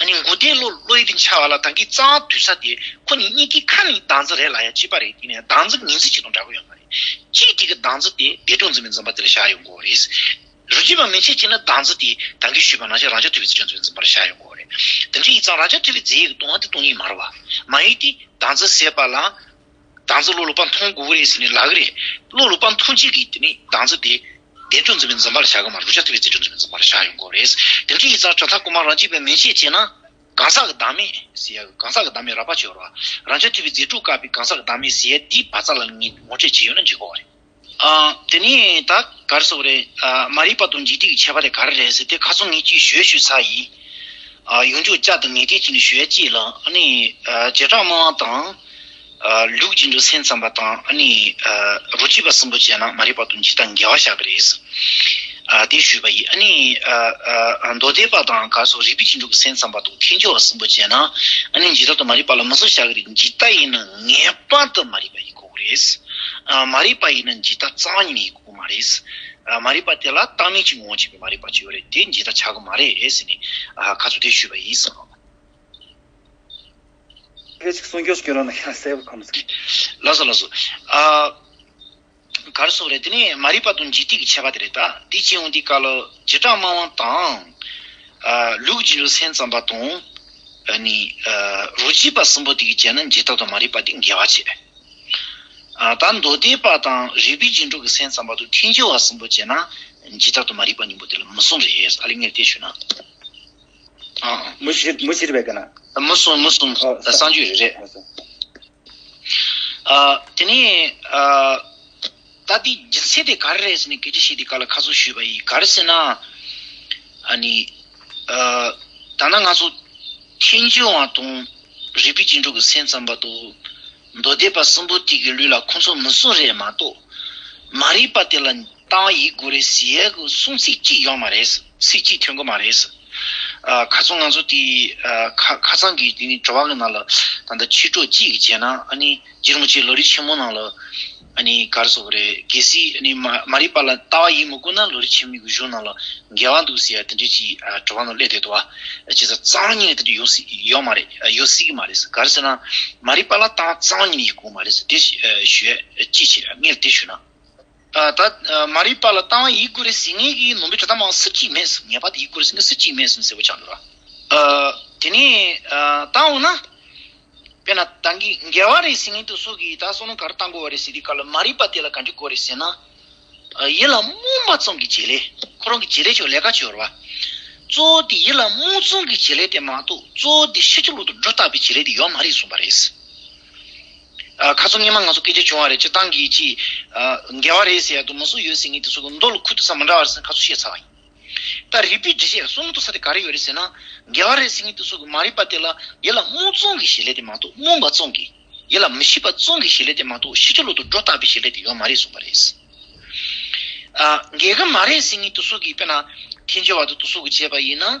ཨ་ནི་མགོ་བདེ་བློ་བློ་ཡིད་དུ་འཆར་བ་ལ་དང་གི་རྩ་བ་དུད་ས་དེ་ཁོ་ནི་གཉིས་ཀྱི་ཁ་ནི་སྡང་རྩི་རེད་ལ་ཡ་ཅི་པ་རེད་དེ་ནས་སྡང་རྩི་ཉིང་རྩི་གཅིག་དང་འདྲ་པོ་ཡོད་མ་རེད། གཅིག་གི་གི་སྡང་རྩི་དེ་བདེ་སྐྱོང་འཛིན་པའི་འཛིན་པ་དེ་ལ་བཞག་ཡོད་མགོ་རེད། རུས་རྒྱུད་པ་མི་ཆེ་གཅིག་ནི་སྡང་རྩི་དེ་དང་གི་བཞུས་པ་ནང་བཞིན་རང་ཅག་ཐུ་བི་རྩི་སྐྱོང་འཛིན་པའི་འཛིན་པ་ལ་བཞག་ཡོད་མགོ་རེད། དེ་འདྲ་ཡིན་ཙང་རང་ཅག་ཐུ་བི་རྫས་ཡིག་གི་སྟོང་ང་དེ་སྟོང་ཉིད་མ་རེད་བ། མ་ཡིན་ཏེ་སྡང་རྩི་ཟེར་པ་ལ། བདག་འཛིན་བློ་ལ་པ་མཐོང་དགོས་རེད་ཟེར་ནས་ལག་གི་རེད། བློ་ལ་པ་མཐོང་བྱེད་ཀྱི་དེ་ནི་བདག་འཛིན་དེ། བདེན་དོན་འཛིན་པའི་འཛིན་པ་ལ་བྱ་དགའ་མ་རེད་རུ་ཅག་ཐུབ་པའི་རྩེ་གྲུ་འཛིན་པའི་འཛིན་པ་ལ་བྱ་ཡོང་དགོས་རེད། དེ་འདྲའི་ཡིག་ཚགས་དྲ་ཐག་ཀུན་མ་རང་གཅིག་པའི་མིང་ཆད་བྱས་ན། གང་ཟག་གི་བདག་མེད་ཟེར་ཡ་གི་གང་ཟག་གི་བདག་མེད་རགས་པ་བྱེད་རོགས། རང་ཅག་ཐུབ་པའི་རྩེ་གྲུ་བཀག་པའི་གང་ཟག་གི་བདག་མེད་ཟེར་ཡ་དེའི་བ་ཚྭ་ལ་ངེད་ངོ་སྤྲད་བྱེད་ཡོད་ན་འཇིགས་པ་བ་རེད། དེ་ནས་ད་གར་སོགས་རེད། མ་རིག་པ་དང་འཇིག་སྡིག་གི་ཁྱད་པར་དེ་གར་རེད་ཟེར་ཏེ་ཁ་ཚོན་ངེས་ཀྱིས་གཞོལ་ཞུས་ཚར་ཡིན། ཡོངས་འཇུག་ལྕགས་དང་ངེས་གཏད་ཅིག་ནས་གཞོལ་ཡ་ཅིག་ལགས། བྱེ་བྲག་སྨྲ་བ་དང། ལུགས་ཀྱི་འབྲུ་སེམས་ཙམ་པ་དང། རོ་གཅིག་པ་གསུམ་པོ་བྱས་ན་མ་རིག་པ་དང་འཇིག་དང་འགལ་བ་བཞག་གི་རེད། དེ་ཞུས་པ་ཡིན། མདོ་སྡེ་པ་དང་གར་སོགས་རིག་པའི་ཀྱི་འབྲུ་གི་སེམས་ཙམ་པ་དང་ཐལ་འགྱུར་བ་གསུམ་པོ་བྱས་ན། འཇིག་ལྟ་དང་མ་རིག་པ་ལ་མི་གཟུགས་བཞག་གི་རེད་འཇིག་ལྟ་ཡིན་ན་ངེས་པ་དུ་མ་རིག་པ་ཡིན། གོ་རེད། མ་རིག་པ་ཡིན་ན་འཇིག་ལྟ་རྩ་བ་ཉིད་ནས་ཡིན་དགོས་མ་རེད། མ་རིག་པ་དེ་ལ་བཏགས་མེད་ཀྱི་ངོ་བོ་བྱས་པའི་མ་རིག་པ་བཅོས་རེད་དེ་འཇིག་ལྟ་ཆགས་གི་མ་རེད་ཟེར་ནས་ཁ་ཚུར་དེ་ཞུས་པ་ཡིན། སྐད་ཅིག་གསུང་སྐྱོང་ཞིག་ཀྱང་རང་ལ་ཡང་གསལ་བོ་གོ་མི་སྲིད། ལ་སོ་ལ་སོ། གར་སོགས་རེད་དེ་ནས་མ་རིག་པ་དང་འཇིག་སྟེགས་ཀྱི་ཁྱད་པར་དེ་རེད་ད་དེ་སྤྱི་ཡོངས་དེ་ཀ་ལ་བྱེ་བྲག་སྨྲ་དབང་དང། ལུགས་རྗེས་འཇུག་སེམས་ཙམ་པ་དང། རུ་བྱིས་པ་གསུམ་པོ་དེ་གིས་བྱས་ན་འཇིག་ལྟ་དང་མ་རིག་པ་དེ་འགལ་བར་བྱེད། ད་མདོ་སྡེ་པ་དང་རིག་པའི་རྗེས་འགྲོ་གི་སེམས་ཙམ་པ་དུ་འཐེན་འཁྱེར་བ་གསུམ་པོ་བྱས་ན་འཇིག་ལྟ་དང་མ་རིག་པ་གཉིས་པོ་དེ་ལ་མི་གསུང་རེད་ཨ་ལེ་ངས་བལྟས་ཞུས་ན། མི་གསུང་མི་གསུང་བས་ཀྱི་ན། མི་གསུང་མི་གསུང་གསང་རྒྱུད་རེད། དེ་ནས། ད་དེ་སྦྱིན་སྲེག་དེ་ག་རེ་རེད་ཟེར་ནས་སྐད་ཆ་བཤད་དེ་ག་ལ་ཁ་ཚུགས་ཞུས་པ་ཡིན་ག་རེ་ཟེར་ན། ཨ་ནི། ད་ནང་ང་ཚོ་ཐེན་ཅོན་དབང་དང་རིག་པའི་སྤྱི་འགྲོ་གི་སེམས་ཙམ་པ་དང། མདོ་སྡེ་པ་སྲིན་པོ་ཏིག་གི་ལུས་ལ་ཁོང་ཚོ་མི་སྲུང་རེད་མ་གཏོགས། མ་རིག་པ་དེ་ལ་བཏང་བ་ཡིན་དགོས་རེད་ཟེར་ཡས་ཀྱི་གསུང་ཚིག་གཅིག་ཡང་མ་རེད། ཚིག་གཅིག་ཐོན་གི་མ་རེད། ག་ཚོད་ང་ཚོ་དེ་ཁ་ཚང་གི་དེ་ནི་དྲི་བ་གི་ནང་ལ་ད་ལྟ་ཕྱི་དྲོ་སྐྱིད་ཀྱི་བྱས་ན་ཨ་ནི་སྒྱིར་མོ་ཆེ་ལོ་རི་ཆེན་མོ་ནང་ལ་ཨ་ནི་གར་སོ་གི་རེད་གལ་སྲིད་ཨ་ནི་མ་རིག་པ་ལ་ལྟ་བ་ཡིན་མི་དགོས་ན་ལོ་རི་ཆེན་མོ་གི་གཞུང་ནང་ལ་འགལ་བ་འདུག་ཟེར་ཡ་དེ་འདྲའི་ཅིག་དྲི་བ་ནང་སླེབས་དེ་དུ་བ་ཅི་ཟེར་གཙང་བ་ཉིད་ནས་དེ་འདྲ་ཡོད་མ་རེད་ཡོད་སྲིད་ཀྱི་མ་རེད་གར་སོང་ན་མ་རིག་པ་ལ་ལྟ་བ་གཙང་བ་ཉིད་ནས་ཡོད་དགོས་མ་རེད་དེ་ཞུས་ཡས་ཅི་བྱས་ངས་དེ་ཞུས་ན། ད་མ་རིག་པ་ལ་བཏང་བ་ཡིད་བཀུར་རེ་ཟིག་ངེད་ཀྱིས་ནོར་འབུལ་དྲ་ཐག་མང་སྲིད་ཀྱིས་མེད་སོང་ངེས་པར་དུ་ཡིད་བཀུར་རེ་ཟིག་ངེད་སྲིད་ཀྱིས་མེད་སོང་ཟེར་བ་ཆགས་འགྲོ། དེ་ནས་བཏང་འོང་ན། དཔེར་ན་ད་ངས་འགལ་བ་རེ་ཟིག་ངེད་དུ་སོགས་ཀྱིས་ད་སོང་ནོ་ག་རེ་བཏང་དགོས་བ་རེ་ཟིག་དེ་ག་ལ་མ་རིག་པ་དེ་ལ་ག་འགྲིག་དགོས་རེ་ཟེར་ན། ཡིད་ལ་རྨོངས་པ་ཙམ་གྱི་བྱེད་ལས་ཁོ་རང་གི་བྱེད་ལས་ཆོག་ལས་ཀ་བྱོས་ར་བ། གཙོ་བོ་དེ་ཡིད་ལ་རྨོངས་ཙམ་གྱི་བྱེད་ལས་དེ་མ་གཏོགས་གཙོ་བོ་དེ་ཤེས་ཀྱི་ལུགས་དུ་སྒྲོ་བཏགས་པའི་བྱེད་ལས་དེ་ཡོད་མ་རེད་གསུངས་པ་རེད། ཁ་ཚོན་སྙེ་མ་ང་ཚོ་སྐད་ཆ་བྱུང་བ་རེད་སྤྱིར་བཏང་གི་ཅི། འགལ་བ་རེད་ཟེར་ཡག་འདུག་མ་གསུངས་ཡོད་ཟེར་ངེས་དེ་ཚོ་གི་མདོ་ལ་ཁུལ་དུ་ས་མ་འདྲ་བ་རེད་ས་ཁ་ཚོན་བཤད་ཚར་བ་ཡིན། ད་རིག་པའི་འགྲེལ་བཤད་གསུངས་འདུག་ས་དེ་ག་རེ་ཡོད་རེད་ཟེར་ན། འགལ་བ་རེད་ཟེར་ངེས་དེ་ཚོ་གི་མ་རིག་པ་དེ་ལ་ཡེ་ལ་སྨོན་བཙོང་གི་ཞེས་ལས་དེ་མ་གཏོགས་སྨོན་པ་བཙོང་གི། ཡེ་ལ་མི་ཤེས་པ་བཙོང་གི་ཞེས་ལས་དེ་མ་གཏོགས་ཤེས་བྱ་བློ་དུ་འགྲོ་བཏགས་པའི་ཞེས་ལས་དེ་ཡོད་མ་རེད་གསུངས་པ་རེད། འགལ་གི་མ་རེད་ཟེར་ངེས་དེ་ཚོ་གི་དཔེར་ན། ཐེན་ཅོ་བ་དེ་དེ་ཚོ་གི་བྱས་པ་ཡིན་ན།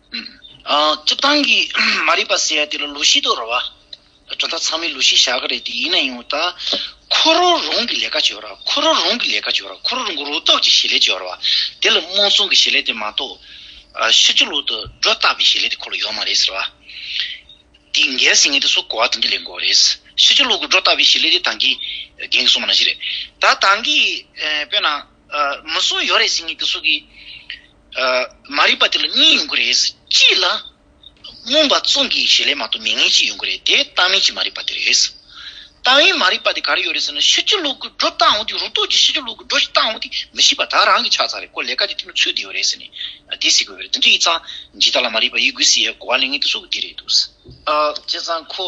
སྤྱིར་བཏང་གི་མ་རིག་པ་ཟེར་ཡ་དེ་ལ་ལོག་ཤེས་དུ་རུང་བ། དོན་དག་ཚང་མའི་ལོག་ཤེས་བཞག་གི་རེད་དེ་ཡིན་ན་ཡང་ད། ཁོ་རོ་རང་གི་ལས་ཀ་བྱོས་ར་ཁོ་རོ་རང་གི་ལས་ཀ་བྱོས་ར་ཁོ་རོ་རང་གི་རོ་སྟོབས་ཀྱི་ཞེས་ལས་བྱོས་ར། དེ་ལ་དམངས་སྲུང་གི་ཞེས་ལས་དེ་མ་གཏོགས། ཤི་ཆུ་ལོག་ཏུ་སྒྲོ་བཏགས་པའི་ཞེས་ལས་དེ་ཁོ་ལ་ཡོད་མ་རེད་ཟེར་བ། དེ་འགལ་ཟེར་ངེས་དེ་སུ་གོ་བ་དེ་འདྲ་ལས་འགོ་རེད། ཤི་ཆུ་ལོག་གི་སྒྲོ་བཏགས་པའི་ཞེས་ལས་དེ་ཐང་གིས་རྒན་གསུངས་པ་ན་ཞིག་རེད། ད་ཐང་གིས་དཔེར་ན། མི་སྲུང་ཡོད་རེད་ཟེར་ངེས་དེ་སུ་གིས། མ་རིག་པ་དེ་ལ་གཉིས་ཡོང་གི་རེད། གཅིག་ལ། རྨོངས་པ་བཙོང་གི་ཞེས་ལས་མ་གཏོགས་མི་ངན་གཅིག་ཡོང་གི་རེད་དེ་ཏང་མིན་གྱི་མ་རིག་པ་དེ་རེད། ཏང་ཡོན་མ་རིག་པ་དེ་ག་རེ་ཡོད་རེད་ཟེར་ན་ཕྱི་ཕྱི་ལོག་གི་སྒྲོ་བཏགས་འོང་དུས་རུ་ཏོག་གི་ཕྱི་ཕྱི་ལོག་གི་སྒྲོ་ཞིག་བཏགས་འོང་དུས་མི་ཤེས་པ་ད་རང་གི་ཆགས་ཚང་རེད་ཁོ་ལས་ཀ་གཅིག་ཐེབས་ན་ཚུལ་དེ་ཡོད་རེད་ཟེར་ནས་དེ་ཟེར་གི་ཡོད་རེད་དེ་འདྲ་ཡིག་ཚང་ཇི་ལྟར་ལ་མ་རིག་པ་ཡིག་གུ་སི་ཡའི་གོ་བ་ལེན་མཁན་དེ་ཚོ་གི་དེ་རེད་འདུག། ཨ། བྱས་ཙང་ཁོ།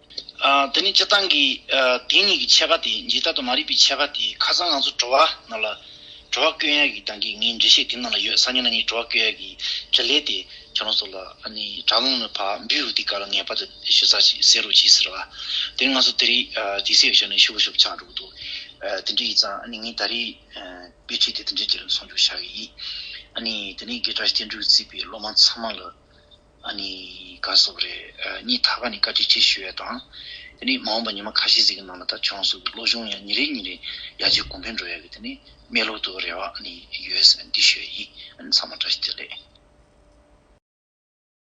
དེ་ནི་སྤྱི་བཏང་གི་དེ་གཉིས་ཀྱི་ཕྱེད་ཀ་དེ་ཇི་ལྟར་དུ་མ་རིག་པའི་ཕྱེད་ཀ་དེ་ཁ་སང་ང་ཚོ་དྲོ་བ་རྣམས་ལ་དྲོ་བ་སྐྱོན་ཡལ་གྱི་དང་གི་ངའི་འགྲེལ་བཤད་དེ་རྣམས་ལ་ཡོད་ས་ཉིན་ན་ངའི་དྲོ་བ་སྐྱོན་ཡལ་གྱི་དྲིས་ལན་དེ་ཁྱེད་རང་ཚོ་ལ་དྲག་རླུང་ནི་བག་འབུས་རུ་དེ་ག་ལ་ངེས་པ་དེ་ཞུ་ས་ཞིག་ཟེར་རུ་གྱིས་ཟེར་བ་དེ་ང་ཚོ་དེ་རིགས་དེ་སེ་བཞག་ནས་ཤུབ་ཤུབ་ཆགས་འགྲོ་གི་འདུག་དེ་འདྲ་ཡིན་ཙང་ངའི་ད་རེས་དཔེ་ཁྲིད་དེ་དེ་འདྲའི་རྒྱུ་ལ་སོང་འཇུག་བྱ་གི་ཡིན། དེ་ནས་དགེ་བཀྲ་བསྟན་འགྲོའི་བརྩིས་པའི་སློབ་མ་ཚང་མ་ལ་ཨ་ནི་ག་སོགས་རེད། གཉིས་ད་ག་ནས་བཀའ་ཁྲིའི་ཁྲི་ཞུ་བའི་དང། དེ་ནས་མ་འོངས་པ་ཉི་མ་ཁ་ཤས་ཟིག་གི་ནང་ལ་ད་བྱུང་སོགས་ཀྱི་བློ་གཞུང་ཡང་ཉིན་རེ་ཉིན་རེ་ཡར་རྒྱས་གོང་འཕེལ་འགྲོ་ཡག་གི་དེ་ནི་སྨྲས་ལོག་ཏུ་རེ་བ་ཨ་ནི་ཡོད་ཟེར་བ་འདི་ཤོད་ཡིན། ཨ་ནི་ཚང་མ་བཀྲ་ཤིས་བདེ་ལེགས།